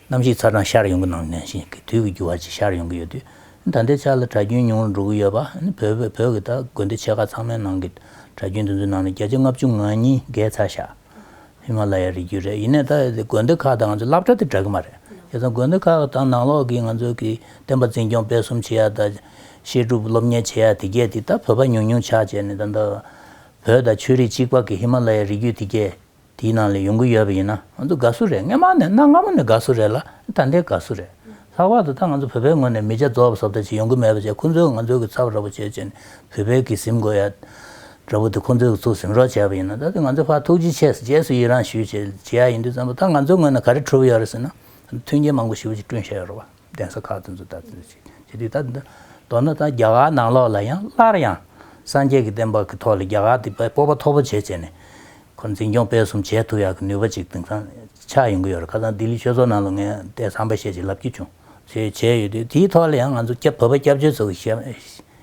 ནམ་ཞིག་ཚ་གྲང་ཤར་ཡོང་གི་སྣང་ནས་ཤིང་གི་དུས་ཀྱི་འགྱུར་བ་ཅིག་ཤར་ཡོང་གི་ཡོད་དུས། ད་ལྟའི་ཆར་ལ་གྲྭ་རྒྱུན་ཉུང་རུ་འགྲོ་གི་ཡོད་པ། བོད་ཀྱི་དགོན་སྡེ་ཆེ་ཁག་ཚང་མའི་ནང་གི་གྲྭ་རྒྱུན་དེ་ཚོའི་ནང་ནས་བརྒྱ་ཆའི་ལྔ་བཅུ་ང་གཉིས་འགའི་ཚ་ཤ་ཧི་མ་ལ་ཡའི་རི་རྒྱུད་རེད། ཡིན་ནའི་ད་དགོན་སྡེ་ཁག་དང་ང་ཚོའི་བསླབ་གྲྭ་དེ་འདྲ་གི་མ་རེད། དེ་ཚོ་དགོན་སྡེ་ཁག་དང་ནང་ལོགས་ཀྱི་ང་ཚོའི་གི་བསྟན་པ་འཛིན་སྐྱོང་སྤེལ་གསུམ་བྱེད་ཡ་དང། བཤད་སྒྲུབ་སློབ་གཉེར་བྱེད་ཡ་དེ་བརྒྱད་དེ་ད་བོད་པ་ཉུང་ཉུང་ཆགས་བྱས་ནས་ད་ལྟ་བོད་དང་ཆོས་རིགས་གཅིག་པ་གི་ཧི་མ་ལ་ཡའི་རི་རྒྱུད་དེ་བརྒྱད། དེའི་ནང་ལས་ཡོང་གི་ཡོད་པ་ཡིན་ན་ང་ཚོ་དགའ་བསུ་རེད་སྔ་མ་ནས་གནའ་སྔ་མོ་ནས་དགའ་བསུ་རེད་ལ་ད་ལྟའི་དགའ་བསུ་རེད། ལྷག་པར་དུ་ད་ང་ཚོ་བོད་པའི་ངོས་ནས་མི་ཇག་རྫོགས་པ་སོབ་ལྟ་ཅིག་ཡོང་གི་མེད་པ་བཅས་ཁོང་ཚོའི་ང་ཚོའི་གི་ཚབ་ར་བོ་བྱེད་ཅེས་ནས་བོད་པའི་གི་གཟིམ་དགོས་ཡ་ར་བོ་དེ་ཁོང་ཚོའི་གི་ཚུགས་གཟིམ་རོགས་བྱས་པ་ཡིན་ན་ད་དེ་ང་ཚོའི་ཕར་ཐུགས་རྗེ་ཆེ་ཟེར་རྗེས་སུ་ཡི་རང་ཞུས་བྱས་བྱེད་ཡ་ཡིན་དུས་བཙན་པོ་ད་ང་ཚོའི་ངོས་ནས་ག་རེ་གྲུབ་ཡོད་རེད་ཟེར་ན་མཐུན་རྐྱེན་མང་པོ་ཞིབ་ཅིག་བསྐྲུན་བྱས་ཡོད་རེད་བ། གདན་ས་ཁག་དེ་ཚོ་ད་ལྟ་བྱེད་ཀྱི་འདུག་ད་འདི་མདོར་ན་ད་རྒྱ་གར་ནང་ལོགས་ལ་ཡང་སླར་ཡང་སངས་རྒྱས་ཀྱི་བསྟན་པ་གི་ཐོག་ལ་རྒྱ་གར་འདི་སྤོབས་པ་མཐོ་པོ་བྱེད་བྱས་ནས་ཁོ་འཛིན་སྐྱོང་སྤེལ་གསུམ་བྱེད་ཐུབ་ཡག་གི་ནུས་པ་ཅིག་དེང་སང་ཆགས་ཡོང་གི་ཡོད་རེད་ཁ་སང་ལྡི་ལི་ཆོས་ཚོགས་ནང་ལ་ངས་དེ་བསམ་པ་བཤད་ཅིག་ལབ་ཀྱི་བྱུང། བྱས་བྱས་ཡོད་དུས་དེའི་ཐོག་ལ་ཡང་ང་ཚོ་བོད་པ་སྐྱབས་བཅོལ་ཚོ་གི་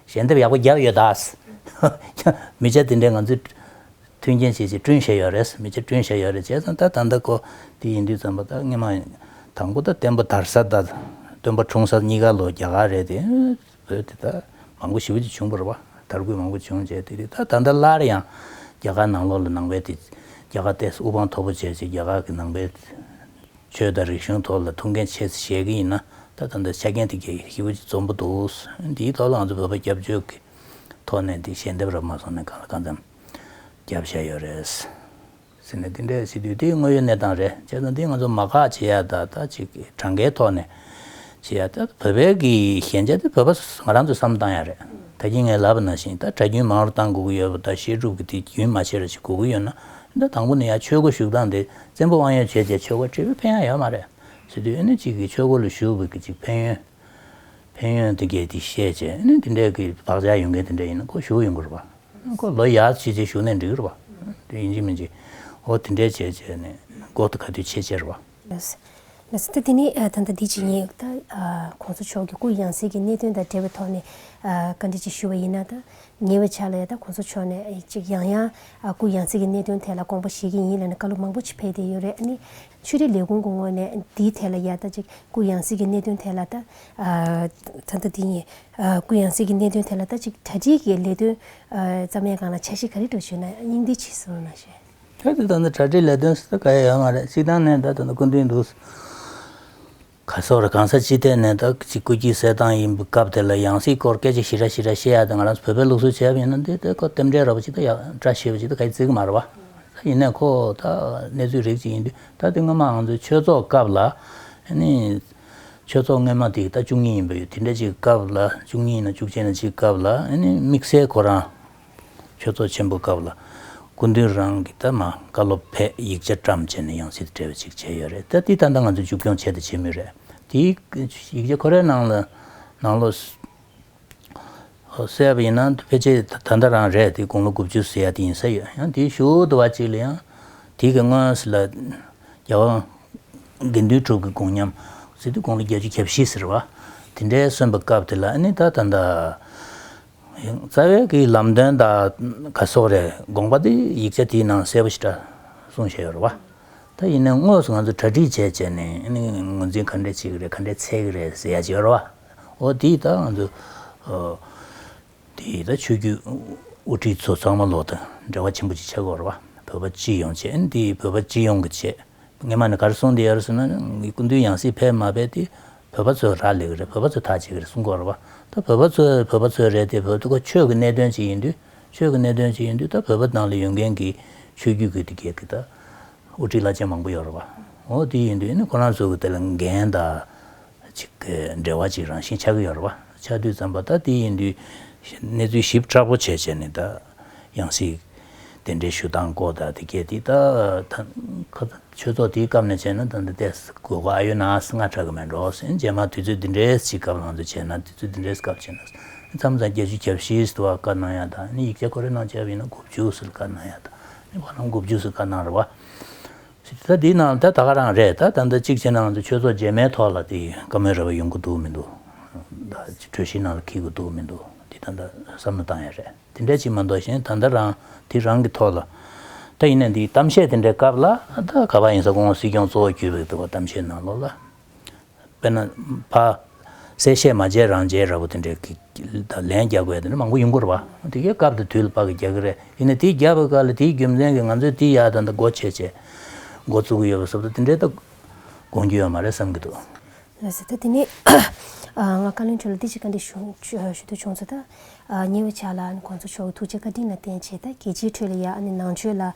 ཞལ་འདེབས་ཡག་པོ་བརྒྱབ་ཡོད་དཱ། མི་ཆ་དེ་འདྲས་ང་ཚོའི། མཐུན་རྐྱེན་བྱེད་ཅིག་བསྐྲུན་བྱས་ཡོད་རེད་མི་བྱེད་བསྐྲུན་བྱས་ཡོད་རེད་བྱས་ཙང་ད་ད་འདི་ཀོ་འདི་ཡིན་དུས་ཙམ་པ་ད་སྔ་མ་དང་པོ་ད་བསྟན་པ་དར་ས་ད་སྟོན་པ་འཁྲུངས་ས་གཉིས་ཀ་ལོ་བརྒྱ་ག་རེད་དེ་བོད་དེ་ད་མང་པོ་ཞི་བ་ཅིག་བྱུང་པར་བ་དར་རྒུད་མང་པོ་བྱུང་བྱས་དེ་དུས་ད་ད་འདི་སླར་ཡང་རྒྱ་གར་ནང་ལོག་ལ་ནང་པའི་དེ་རྒྱ་གར་ཏེས་དབུ་འཕང་མཐོ་པོ་བྱས་ཅིག་རྒྱ་གར་གི་ནང་པའི་ཆོས་དང་རིག་གཞུང་ཐོག་ལ་ཐུགས་འགན་ཆེ་ས་བཞེས་ཀྱི་ཡིན་ན་ད་ད་འདི་ཆ་རྐྱེན་དེ་གས་ཞི་བ་ཅིག་འཛོམས་པོ་འདུག་འདིའི་ཐོག་ལ་ང་ཚོ་བོད་པ་སྐྱབས་བཅོལ་གི་ཐོག་ནས་འདི་ཞལ་འདེབས་རག་མ་སོང་ནས་གང་ལ་གང་འཚམ། རྒྱབ་བཤད་ཡོད་རེད། ཟེར་ནས་འདི་འདྲའི་སྲིད་དུས་དེ་དངོས་ཡོད་གནས་སྟངས་རེད་བྱས་ཙང་འདི་ང་ཚོ་མ་ཁག་བྱེད་ཡ་ད་ལྟ་ཅིག་གྲངས་ཀའི་ཐོག་ནས་བྱེད་ཡ་ད་བོད་པའི་གི་ཞན་ཆ་དེ་བོད་པ་ང་རང་ཚོས་བསམ་བཏང་ཡ་རེད་ད་ཀྱི་ངའི་ལབ་ན་བཞིན་ད་གྲྭ་རྒྱུན་མང་རུ་བཏང་དགོས་ཀྱི་ཡོད་པ་ད་བཤད་སྒྲུབ་གི་དེ་རྒྱུན་མ་ཆད་ར་ཅིག་དགོས་ཀྱི་ཡོད་ན་ད་དང་པོ་ནས་ཡ་ཆོས་སྒོ་བཞུགས་སྟངས་དེ་བཙན་པོ་དབང་ཡོད་བྱས་བྱས་ཆོས་སྒོ་ཁྲི་བོད་ཕན་ཡ་ཡོད་མ་རེད་སྲིད་དུས་ཨེ་ནས་ཅིག་གི་ཆོས་སྒོ་ལ་བཞུགས་བོད་ཀྱི་ཅིག་ཕན་ཡོན་ཕན་ཡོན་དེ་གས་དེ་བཤད་བྱས་ཨེ་ནས་འདི་འདྲའི་གི་བག་ཆགས་ཡོད་མཁན་དེ་འདྲ་ཡིན་ན་སྒོ་བཞུགས་ཡོད་དགོས་རུ་བ། མགོ་ལོ་ཡག་བྱེད་ཅེས་ཞུ་ནས་འགྲིག་རོ་བ། དེ་ཡིན་གྱི་མིན་གྱི། ཨོ་དེ་འདྲས་བྱས་བྱས་ནས་མགོ་དུ་ག་དུས་ཆེ་ཆེར་བ། མ་ཟད་ད་དེ་ནི་ད་ལྟ་འདི་ཇི་ཡིན། ད་གོང་ས་མཆོག་གིས་སྐུ་ཡང་སྲིད་ཀྱི་གནད་དོན་དང་འབྲེལ་བའི་ཐོག་ནས་བཀའ་འདྲི་ཅིག་ཞུ་བ་ཡིན་ན་ད་ཉེ་བའི་ཆ་ལ་ཡང་ད་གོང་ས་མཆོག་ནས་ཅིག་ཡང་ཡང་སྐུ་ཡང་སྲིད་ཀྱི་གནད་དོན་ཐད་ལ་དགོངས་པ་བཞེས་ཀྱི་ཡིན་ལ་ནི་བཀའ་སློབ་མང་པོ་ཅིག་ཕེབས་བསྡད་ཡོད་རེད་ཨ་ནི། ཆོས་རིག་ལས་ཁུངས་ཀྱི་ངོས་ནས་འདིའི་ཐད་ལ་ཡང་ད་ཅིག་སྐུ་ཡང་སྲིད་ཀྱི་གནད་དོན་ཐད་ལ་ད། ད་ལྟ་འདི་ཡིན། གུ་ཡངས་སྲིད་ཀྱི་གནད་དོན་ཐད་ལ་ད་ཅིག་གྲ་སྒྲིག་གི་ལས་དོན་ཙམ་ཡང་གང་ལ་བྱ་ཞེས་ག་རེ་སྒྲོག་བྱུང་ན་སྙིང་འདི་ཕྱི་གསུངས་ན་ཤེས། ཁྱོད་ཀྱི་དོན་དུ་གྲ་སྒྲིག་ལས་དོན་སུ་ད་ག་ཡ་ཡོད་མ་རེད་ཅིག་དང་ནས་ད་དོན་དུ་སྐུ་མདུན་འདུག་ག་སོགས་རེད་གང་ས་ཅི་ཐད་ནས་ད་ཅིག་སྐུ་སྐྱིད་གསལ་ཐང་ཡིན་པའི་སྐབས་དེ་ལ་ཡངས་སྲིད་སྐོར་སྐད་ཅིག་ཞི་ར་ཞི་ར་བཤད་ཡ་དེ་ང་རང་ཚོ་བོད་པའི་ལུགས་སྲོལ་བྱས་པ་ཡིན་ན་འདི་དེ་ཁོ་རྟེན་འབྲེལ་ར་བ་ཅིག་ད་ཡག་འདྲ་བྱས་པ་ཅིག་ད་ག་ཡ་བརྩི་གི་མ་རེད་བ། ད་ཡིན་ནའི་ཁོ་ད་གནས་ཚུལ་རིགས་ཅིག་ཡིན་དུས་ད་དེ་སྔོན་མ་ང་ཚོའི་ཆོས་ཚོགས་སྐབས་ལ་ནི། ཆོས་ཚོགས་སྔོན་མ་དེ་ད་བཅུ་གཉིས་ཡིན་པ་ཡོད་དེ་འདྲ་གཅིག་སྐབས་ལ་བཅུ་གཉིས་ཡིན་ན་བཅུ་གཅིག་ན་གཅིག་སྐབས་ལ་ཨེ་ནི་དམིགས་བསལ་ཁོ་རང་ཆོས་ཚོགས་ཆེན་པོ་སྐབས་ལ་སྐུ་མདུན་རང་གི་ད་མ་བཀའ་སློབ་ཕེ་ཡིག་ཆ་བཀྲམ་བྱས་ནས་ཡང་སྲིད་བྲལ་བ་ཅིག་བྱས་ཡོད་རེད་ད་དེ་ད་ལྟ་ང་ཚོས་མཇུག་སྐྱོང་བྱས་དང་བྱེད་མུས་རེད་དེའི་ཡིག་ཆ་ཁོ་རའི་ནང་ལ་ནང་ལོགས་བསད་པ་ཡིན་ན་ཕལ་ཆེར་ད་ལྟ་རང་རེད་དེ་དགུང་ལོ་དགུ་བཅུ་ཟེར་ཡ་དེ་ཡིན་ས་ཡོད་ཡང་དེའི་ཞོར་དུ་བ་གཅིག་ལ་ཡང་དེ་གི་སྔོན་ཟེར་ལ་རྒྱལ་བ་དགེ་འདུན་གྲུབ་ཀྱི་དགུང་མཉམ་ཟེར་དུས་དགུང་ལོ་བརྒྱད་ཅུ་གྱ་བཞི་ཟེར་བ་དེ་འདྲའི་གསོན་པའི་སྐབས་དེ་ལ་ཨཱ་ནི་ད་ད་འདྲ། རྩ་བའི་གི་ལམ་སྟོན་དག་ག་སོགས་རེད་དགོངས་པ་དེ་ཡིག་ཆ་དེའི་ནང་གསལ་པོ་ཞིག་འདྲ་གསུངས་བཞེད་ཡོད་རེད་བ། ད་ཡིན་ནའི་དངོས་སུ་ང་ཚོ་གྲ་སྒྲིག་བྱས་བྱས་ནས་ཨཱ་ནི་ངོས་འཛིན་ག་འདྲའི་བྱེད་ཀྱི་རེད་ག་འདྲའི་འཚལ་གྱི་རེད་ཟེར་ཡ་ཅི་ཡོད་རེད་བ། འོ་དེས་ད་ང་ཚོ་དེའི་ད་ཆོས་རྒྱུད་དབུ་ཁྲིད་ཚོ་ཚང་མ་ལོག་དང་འབྲེལ་བ་ཆེན་པོ་ཅིག་བྱེད་དགོས་རེད་བ་བོད་པ་སྤྱི་ཡོངས་ཆེད་ཨན་དེའི་བོད་པ་སྤྱི་ཡོངས་ཀྱི་ཆེད་ངེད་མ་ནི་གར་སོང་དེ་ཡར་སོང་ན་ངའི་སྐུ་མདུན་ཡང་སྲིད་ཕེབས་མ་ཕེབས་དེ་བོད་པ་ཚོས་རག་ལས་གི་རེད་བོད་པ་ཚོས་ཐག་བཅད་གི་རེད་གསུང་དགོས་རེད་བ་ད་བོད་པ་ཚོས་བོད་པ་ཚོས་རེད་དེ་བོད་ཁོ་ཆོས་ཀྱི་གནད་དོན་ཅིག་ཡིན་དུས་ཆོས་ཀྱི་གནད་དོན་ཅིག་ཡིན་དུས་ད་བོད་པ་ནང་ལ་ཡོད་མཁན་གྱི་ཆོས་རྒྱུད་ཀྱི་དེ་ག་གི་ད་དབུ་ཁྲིད་བླ་ཆེན་མང་པོ་ཡོད་རེད་བ་འོ་དེ་ཡིན་དུས་ཨ་ནི་ཁོ་རང་ཚོ་གི་དེ་ལ་འགན་ད་གཅིག་གི་འབྲེལ་བ་གཅིག་རང་བཞིན་ཆགས་ཀྱི་ཡོད་རེད་བ། ཆགས་དུས་ཙམ་པ་ད་དེ་ཡིན་དུས་གནས་ཚུལ་ཞིབ་ཕྲ་པོ་བྱས་བྱས་ནས་ད་ཡང་སྲིད་དེ་འདྲའི་ཞུ་སྟངས་སྐོར་ད་དེ་གལ་ཏེ་ད་ཆོས་ཚོགས་དེའི་སྐབས་ནས་བྱས་ན་ད་འདི་ལྟའི་དགོས་མཁོ་ཨ་ཡོད་ན་ང་ཁྲག་གི་མེད་འགྲོ་ཟེར་རྗེས་མ་དུས་ཚོད་འདི་འདྲའི་ཞིག་སྐབས་ལང་ཚོ་བྱས་ན་དུས་ཚོད་འདི་འདྲའི་སྐབས་བྱས་ན་མཚམས་མཚམས་བརྒྱད་ཅུ་གྱ་བཞིའི་ཟླ་བ་བཀའ་གནང་ཡག་དང་ཡིག་ཆ་ཁོ་རེ་གནང་བྱས་པ་ཡིན་ན་དགུ་བཅུ་ཟིལ་བཀའ་གནང་ཡག་དང་ཡིན་ན་བར་ལམ་དགུ་བཅུ་ཟིལ་བཀའ་གནང་རེད་བ། ད་འདི་ནང་ད་ད་ག་རང་རེད་ད་ད་ད་གཅིག་བྱེད་ནའང་འདི་ཆོས་ཚོགས་རྗེས་མའི་ཐོག་ལ་འདི་བཀའ་མོལ་རེ་བ་ཡོང་གི་འདུག་མི་འདུག་ད་གྲོས་གཞིའི་ནང་ལ་འཁེལ་གི་འདུག་མི་འདུག་འདི་ད་ད་བསམ་བློ་བཏང་ཡ་རེད་དེ་འདྲ་ཅིག་མ་གཏོགས་གཞན་ད་ད་རང་དེ་རང་གི་ཐོག་ལ་ད་ཡིན་ན་འདི་གཏམ་བཤད་དེ་འདྲའི་སྐབས་ལ་ད་ག་པ་ཡིན་ས་ཁོང་སྲིད་སྐྱོང་གཙོ་བོ་གྱུར་པའི་འདུག་གཏམ་བཤད་གནང་ལོག་ལ། དཔེར་ན། བ། གསལ་བཤད་མ་བྱས་རང་བྱས་ར་བོ་དེ་འདྲའི་དང་ལན་རྒྱག་པའི་དེ་འདྲ་མང་པོ་ཡིན་སྐོར་བ། དེ་གའི་སྐབས་དེ་དུས་ལ་དཔག་གིས་རྒྱག་གི་རེད་ཡིན་ནའི་དེའི་རྒྱག་པའི་སྐབས་ལ་དེའི་རྒྱུ་མཚན་གྱིས་ང་ཚོས་དེ་ཡག་དང་དེ་མགོ་བྱས་བྱས། མགོ་བཙུགས་གི་ཡོད་པ་སོགས་དེ་འདྲའི་ཐད་དགོངས་རྒྱུ་ཡོད་མ་རེད་བསམ་གྱི་འདུག། ལ་ཟེར་ཐལ་དེ་ནས། ང་བཀའ་བློན་མཆོག་ལ་འདི་གཅིག་ག་འདྲི་ཞུ་འདོད་བྱུང་ཚོད་ལྟ། ཉེ་བའི་ཆ་ལ་ཨ་ནི་ཁོང་ཚོ་མཆོག་གི་ཐུགས་རྗེ་བཀའ་དྲིན་ལ་བརྟེན་བྱས་ད་གལ་ཆེའི་ཁྲོད་ལ་ཡ་ཨ་ནི་ནང་ཆོས་ལ་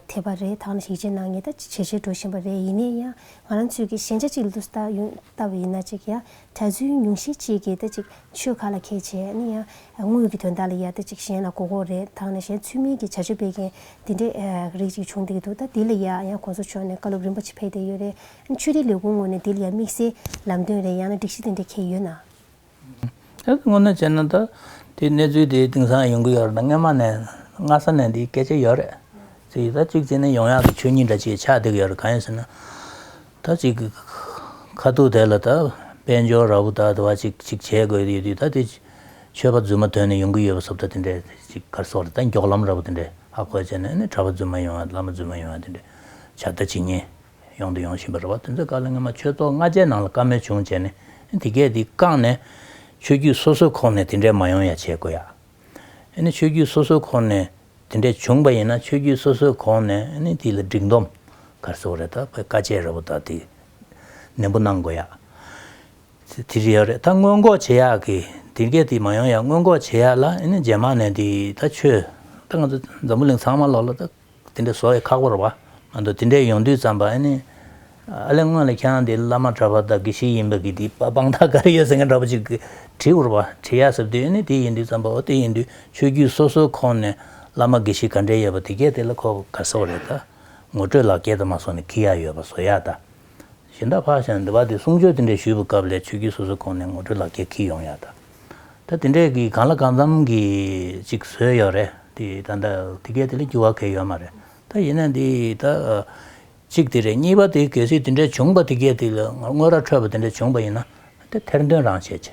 ཐེབས་པ་རེད་ད་ཨ་ནི་ཞིག་ཆའི་ནང་ངེས་ད་ཇེ་ཆེར་འགྲོ་བཞིན་པ་རེད་ཡིན་ནའི་ཡང་ང་རང་ཚོས་ཀྱིས་ཞན་ཆ་གཅིག་ལུས་སུ་བཏགས་བ་ཡིན་ན་ཅིག་ཡ་གྲྭ་བཙུན་ཉུང་ཤས་གཅིག་གིས་ད་ཅིག་ཆོལ་ཁ་ལ་ཁས་འཆེ་ནི་ཡ་དངུལ་གྱི་དོན་དག་ལ་ཡ་ད་ཅིག་གཞན་ལ་གོ་གོ་རེ་ད་ནི་གཞན་ཚུལ་མིན་གྱི་བྱ་སྤྱོད་སྤེལ་མཁན་དེ་འདྲས་རིགས་ཅིག་བྱུང་བསྡད་ཀྱི་འདུག་ད་དེ་ལ་ཡ་ཡང་གོང་ས་མཆོག་ནས་བཀའ་སློབ་རིན་པོ་ཆེ་ཕེབས་བསྡད་ཡོད་རེད་ཨ་ནི་ཆོས་རིག་ལས་ཁུངས་ངོས་ནས་དེ་ལ་ཡ་དམིགས་བསལ་ལམ་སྟོན་རེ་ཡང་ན་སྒྲིག་གཞི་དེ་འདྲས་ཁེལ་ཡོད་ན། ཁྱེད་ཀྱིས་དངོས་གནས་བྱས་ན་ད་དེའི་གནས་ཚུལ་དེ་དེང་སང་ཡོང་གི་ཡོད་རེད་ད་སྔ་མ་ནས་སྔ་ས་ནས་འདིའི་སྐད་ཆ་ཡོད་རེད་ཅེས་ད་གཅིག་བྱས་ནས་ཡོང་ཡག་གི་ཆོས་ཉིད་འདྲ་ཆེ་ཆགས་བསྡད་ཀྱི་ཡོད་རེད་གང་ཡིན་ཟེར་ན་ད་གཅིག་གི་ཁ་ཐུག་དེ་ལ་ད་དཔལ་འབྱོར་ར་བོ་ད་དེ་བ་གཅིག་གཅིག་བྱེད་དགོས་ཀྱི་ཡོད་དུས་ད་དེ་ཆོས་པ་རྫུན་མ་དོན་ནས་ཡོང་གི་ཡོད་པ་སོགས་ད་དེ་འདྲའི་གཅིག་སྐར་སོགས་རེད་ད་མགྱོགས་ལམ་ར་བོ་དེ་འདྲས་ཧ་གོ་བྱས་ནས་ནི་གྲྭ་པ་རྫུན་མ་ཡོང་ཡ་བླ་མ་རྫུན་མ་ཡོང་ཡ་དེ་འདྲས་བྱ་ད་བྱེད་ཉེན། ཡོང་དུ་ཡོང་བཞིན་པར་རེ་བ་དོན་མཛད་བཀའ་ལ་ངེས་མ་ཆོས་ཚོགས་ལྔ་རྗེས་གནང་ལ་བཀའ་མོལ་བྱུང་བྱས་ནས་དེ་གས་དེ་བཀག་ནས། ཆོས་བརྒྱུད་སོ་སོའི་ཁོག་ནས་དེ་འདྲས་མ་ཡོང་ཡ་བྱེད་དགོས་ཡ། ཨེ་ནི་ཆོས་བརྒྱུད་སོ་སོའི་ཁོག་ནས་དེ་འདྲས་བྱུང་བ་ཡིན་ན་ཆོས་བརྒྱུད་སོ་སོའི་ཁོག་ནས་ཨེ་ནི་དེ་ལ་སྒྲིག་འདོམས་གར་སོགས་རེ་ད་བའི་བཀའ་ཆད་རེ་བོ་ད་དེ་ནན་པོ་གནང་དགོས་ཡ། དེ་རེ་ཡ་རེ་ད་སྔོན་འགོག་བྱེད་ཡ་གི་དེ་གས་དེ་མ་ཡོང་ཡ་སྔོན་འགོག་བྱེད་ཡ་ལ་ཨེ་ནི་རྗེས་མ་ནས་དེ་ད་ཆོས་ད་ང་ཚོ་འཛམ་བུ་གླིང་ཚང་མ་ལོག་ལ་ད། དེ་འདྲ་བཟོ་ཡི་ཁག་པར་བ། ང་འདུག་དེ་འདྲས་ཡོང་དུས་ཙམ་པ་ཨ་ནི། ཨ་ལས་སྔོན་ལ་ཁྱེད་རང་འདི་བླ་མ་གྲྭ་པ་དག་གི་ཞིག་ཡིན་པ་གི་འདི་པ་དཔང་རྟགས་ག་རེ་ཡོད་ཟེར་མཁན་འདྲ་པོ་ཅིག་གིས་དྲིས་བར་བ། དྲིས་ཡ་ཟེར་དུས་ཨ་ནི་དེ་ཡིན་དུས་ཙམ་པ་ཨོ་དེ་ཡིན་དུས་ཆོས་བརྒྱུད་སོ་སོའི་ཁོངས་ནས་བླ་མ་གི་ཞིག་ག་འདྲས་ཡོད་པ་དེ་གས་དེ་ལ་ཁོ་ག་ཟེ་བ་རེད་ད། ངོ་སྤྲོད་ལག་འཁྱེར་དུ་མ་བཟོ་ནས་ཁི་ཡ་ཡོད་པ་བཟོ་ཡ་ད། གཞི་འདྲ་ཕག་ཞང་འདི་བ་དེ་གསུང་ཆོས་དེ་འདྲའི་ཞུས་པའི་སྐབས་ལས་ཆོས་བརྒྱུད་སོ་སོའི་ཁོངས་ནས་ངོ་སྤྲོད་ལག་འཁྱེར་ཁྱི་ཡོང་ཡག་ད། ད་དེ་འདྲས་ཀྱིས་གང་ལ་གང་འཚམ་གྱིས་ཅིག་བཟོས་ཡོད་རེད་དེ་ད་ད་དེ་གས་དེ་ལས་འགྱུར་བ་གས་ཡོད་མ་རེད་ད་ཡིན་ན་འདི་ད། གཅིག་དེ་རེད་གཉིས་པ་དེ་གལ་སྲིད་དེ་འདྲས་བྱུང་པ་དེ་གས་དེ་ལས་དངོས་ར་འཕྲོད་པ་དེ་འདྲས་བྱུང་པ་ཡིན་ན་ད་ཐེར་འདོན་རང་བྱེད་ཀྱི།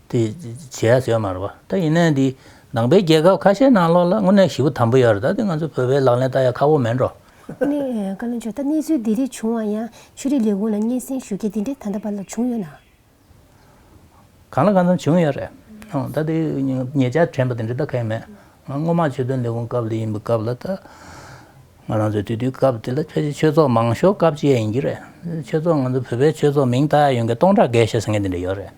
དེ་བྱས་ཟེར་མ་རེད་པ་ད་ཡིན་ན་འདི་ནང་པའི་རྒྱལ་ཁབ་ཁ་ཤས་ནང་ལོགས་ལ་དངོས་གནས་ཞི་བ་དམ་པོ་ཡོད་རེད་ད་དེ་ང་ཚོ་བོད་པའི་ལག་ལེན་ལྟར་ཡང་ཁག་པོ་མེད་འགྲོ། གནས་བཀའ་བློན་མཆོག་ད་གནས་ཚུལ་འདི་རིགས་བྱུང་བ་ཡང་ཆོས་རིག་ལས་ཁུངས་ལ་སྙན་སེང་ཞུ་མཁན་འདི་འདྲས་ད་ལྟ་བར་ལ་བྱུང་ཡོད་ན། གང་ལ་གང་འཚམ་བྱུང་ཡོད་རེད་ད་དེ་ངེད་ཅག་དྲན་པ་དེ་འདྲས་ད་ཁེངས་མེད་ང་སྔོན་མ་ཆོས་དོན་ལས་ཁུངས་སྐབས་ལ་ཡིན་པའི་སྐབས་ལ་ད་ང་རང་ཚོའི་དུས་དུས་སྐབས་དེ་ལ་ཕལ་ཆེར་ཆོས་ཚོགས་མང་ཤོས་སྐབས་བཅས་ཡིན་གྱི་རེད་ཆོས་ཚོགས་ང་ཚོ་བོད་པའི་ཆོས་ཚོགས་མིང་བཏགས་ཡོད་མཁན་སྟོང་ཕྲག་བརྒལ་ཞེས་ཟེར་མཁན་དེ་འདྲས་ཡོད་རེད།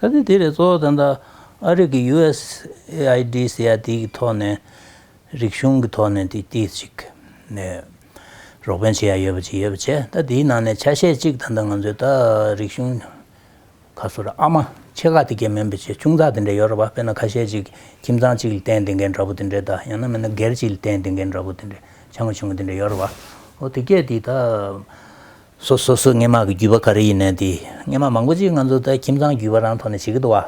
ད་ལྟའི་དུས་རེ་གཙོ་བོ་ད་ལྟ་ཨ་རིག་གི USAIDསྱ་དེ་གི་ཐོག་ནས་རིག་གཞུང་གི་ཐོག་ནས་དེ་དེ་ཅིག་ནས་རོགས་ཕན་བྱེད་ཡ་ཡོད་པ་ཅིག་ཡོད་པ་བྱས་ད་ལྟ་དེའི་ནང་ནས་ཆ་ཤས་གཅིག་ད་ལྟ་ང་ཚོའི་ད་རིག་གཞུང་ཁ་སོ་ར་ཨ་མ་ཆེ་ཁག་དེ་གས་མིན་པ་ཆེ་ཆུང་ཚགས་དེ་འདྲས་ཡོད་ར་བ་དཔེར་ན་ཁ་ཤས་ཅིག་ཁྱིམ་ཚང་གཅིག་ལ་བརྟེན་དེ་འགས་འདྲ་པོ་དེ་འདྲས་ད་ཡང་ན་མིན་ན་སྒེར་གཅིག་ལ་བརྟེན་དེ་འགས་འདྲ་པོ་དེ་འདྲས་ཆ་མ་ཆུང་བ་དེ་འདྲས་ཡོད་ར་བ་ཨོ་དེ་གས་དེ་ད། སོ་སོ་སོའི་སྔས་མ་གི་རྒྱུས་པ་ག་རེ་ཡིན་ནན་དེ་སྔས་མ་མང་པོ་ཅིག་ང་ཚོ་ད་ཁྱིམ་ཚང་རྒྱུས་པ་རང་ཐོག་ནས་བྱེད་ཀི་འདུག་བ་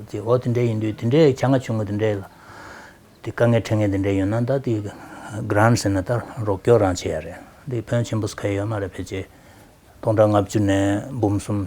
དེ་འོ་དེ་འདྲའི་ཡིན་དུས་དེ་འདྲའི་བྱ་ང་ཆུང་ངུ་དེ་འདྲའི་ལ་དེ་དཀའ་ངལ་འཕྲད་ངེས་དེ་འདྲའི་ཡོད་ན་ད་དེ Grant ཟེར་ན་ད་རོགས་སྐྱོར་རང་བྱེད་ཡ་རེད་དེ་བོན་ཆེན་པོ་སྐལ་ཡོད་མ་རེད་ཕལ་ཆེར་སྟོང་ཕྲག་ལྔ་བཅུ་ནས་འབུམ་གསུམ་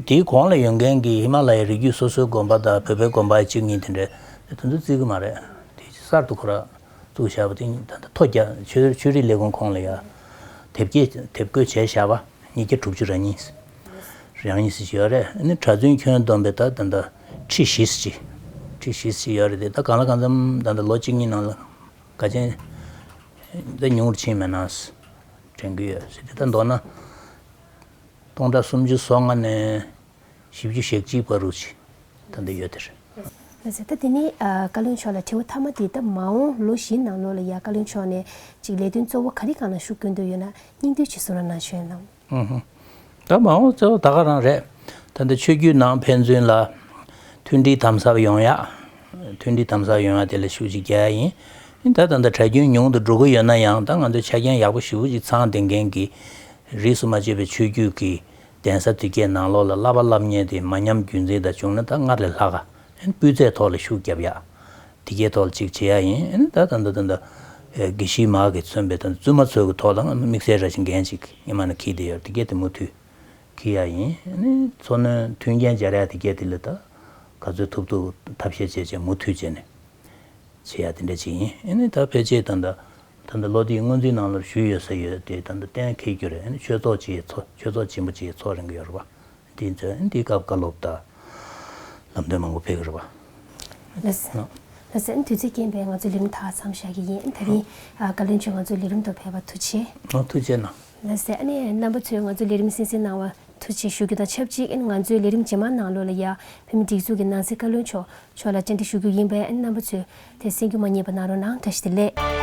དེའི་གོང་ལ་ཡོད་མཁན་གྱི་ཧི་མ་ལ་ཡའི་རི་རྒྱུད་སོ་སོའི་དགོན་པ་དང་བོད་པའི་དགོན་པ་གཅིག་གཉིས་དེ་འདྲས་དེ་ཚོ་བརྩི་གི་མ་རེད། དེ་གསར་དུ་ཁོ་ར་བཙུགས་བཞག་པ་དེ་ཉིད་ད་ལྟ་མཐོ་རྒྱ་ཆོས་རིག་ལས་ཁུངས་ཁོངས་ལ་ཡ་དེབ་སྐྱེལ་དེབ་བཀོད་བྱས་བཞག་པ་ཉིས་བརྒྱ་དྲུག་ཅུ་རང་ཉིད་རང་ཉིད་ཟིག་ཡོད་རེད་ཨ་ནི་གྲྭ་བཙུན་ཁྱོན་བསྡོམས་པས་ད་ད་ཁྲི་བཞི་ཟིག་ཁྲི་བཞི་ཟིག་ཡོད་རེད་དེ་ད་གང་ལ་གང་འཚམ་ད་ལྟ་ལོ་གཅིག་གཉིས་ནང་ལ་དགའ་ཆེན་ད་ཉུང་རུ་ཕྱིན་མེད་ན་དྲན་གི་ཡོད་ཟིག་དེ་ད་མདོར་ན། སྟོང་དང་སུམ་ཅུ་སོ་ལྔ་ནས་བཞི་བཅུ་ཞེ་གཅིག་བར་རུ་ཆེ་ད་འདི་ཡོད་དེ་རེད། བཟའ་ཟླ་དེ་ནས་བཀའ་བློན་མཆོག་ལ་དྲི་བ་མཐའ་མ་འདི་ད་མ་འོང་ལོ་བཞི་ནང་ལོ་ལ་ཡ་བཀའ་བློན་མཆོག་ནས་ཅིག་ལས་དོན་གཙོ་བོ་ག་རི་གང་ལ་ཤུགས་བསྐྱོན་འདོད་ཡོད་ན་སྙིང་བསྡུས་ཅིག་གསུང་ར་གནང་ཤོད་གནང། ད་མ་འོང་གཙོ་བོ་ད་ག་རང་རེད་ད་འདི་ཆོས་རྒྱུད་ནང་ཕན་ཚུན་ལ་མཐུན་སྒྲིལ་དམ་ཟབ་ཡོང་ཡ་མཐུན་སྒྲིལ་དམ་ཟབ་ཡོང་ཡ་དེ་ལ་ཤུགས་ཅིག་རྒྱག་ཡ་ཡིན་ཡིན་ད་ད་འདི་གྲྭ་རྒྱུན་ཉུང་དུ་འགྲོ་གི་ཡོད་ན་ཡང་ད་ང་ཚོས་ཆ་རྐྱེན་ཡག་པོ་ཞིབ་པོ་ཅིག་ཚང་འདི་མཁན་གི་རིས་སུ་མ་ཆད་པའི་ཆོས་བརྒྱུད་ཀྱི་གདན་ས་དུས་བརྒྱད་ནང་ལོགས་ལ་བསླབ་པ་བསླབ་ཉེས་དེ་མ་ཉམས་རྒྱུན་འཛིན་དང་བྱུང་ན་ད་སྔར་ལས་ལྷག་སྤུས་ཚད་ཐོག་ལ་ཤུགས་བརྒྱབ་ཡག། དེ་གའི་ཐོག་ལ་ཅིག་བྱེད་ཡག་ཡིན། ད་ད་ད་ད་ད། དགེ་བཤེས་མ་གིས་མཚོན་པའི་ད་བཙུན་མ་ཚོའི་གི་ཐོག་ལ་དམིགས་བསལ་ར་བཞིན་འགན་ཅིག་སྙེ་མ་ན་འཁྱིལ་དེ་ཡོད་དེ་གས་དེ་མུ་མཐུད་འཁྱིལ་ཡག་ཡིན། འཚོ་སྣོན་མཐུན་རྐྱེན་སྦྱར་ཡག་དེ་གས་དེ་ལས་ད་ག་ཚོད་ཐུབ་ཐུབ་ཐབས་ཤེས་བྱས་བྱས་མུ་མཐུད་བྱས་ནས་བྱེད་ཡག་དེ་འདྲ་ཅིག་ཡིན། ད་ཕལ་ཆེར་ད་ད། ད་ལྟ་ལོ་དེའི་སྔོན་རྩིས་ནང་ལོར་ཞུས་ཡོད་ཟེར་ཡོད་དེ་ད་ལྟ་གཏན་འཁེལ་རྒྱུ་རེད་ཆོས་ཚོགས་ཀྱི་ཚོགས་ཆོས་ཚོགས་ཆེན་པོ་གཅིག་ཚོགས་རིང་གི་ཡོད་རེད་པ། འདིའི་ཚོད་འདིའི་སྐབས་བཀའ་སློབ་དང། ལམ་སྟོན་མང་པོ་ཕེབས་ཀྱི་རེད་པ། ལྷ་སའི་དུས་ཚོད་རྐྱེན་པས་ང་ཚོ་ལས་རིམ་དག་མཚམས་བཞག་གི་ཡིན་ད་རིང་བཀའ་བློན་མཆོག་ང་ཚོའི་ལས་རིམ་དུ་ཕེབས་པ་ཐུགས་ཆེ། ཐུགས་ཆེ་གནང། ལ་ཟེར་ཨ་ནི་རྣམ་པ་ཚོས་ང་ཚོ་ལས་རིམ་བསྲིང་བསྲིང་གནང་བ་ཐུགས་རྗེ་ཞུ་རྒྱུ་དང་ཆབས་ཅིག་ང་ཚོའི་ལས་རིམ་ཇེ་མང་གནང་བློ་ལ་ཡ་བའི་མི་སྒྲིག་འཛུགས་ཀྱི་ནང་སྲིད་བཀའ་བློན་མཆོག་མཆོག་ལ་བཅར་འདྲི་ཞུ་རྒྱུ་ཡིན་པས་ཨ་ནི་རྣམ་པ་ཚོས་དེ་བསྲིང་རྒྱུ་མ་རྙེད་པ་གནང་རོགས་གནང་བཀྲ་ཤིས་བདེ་ལེགས།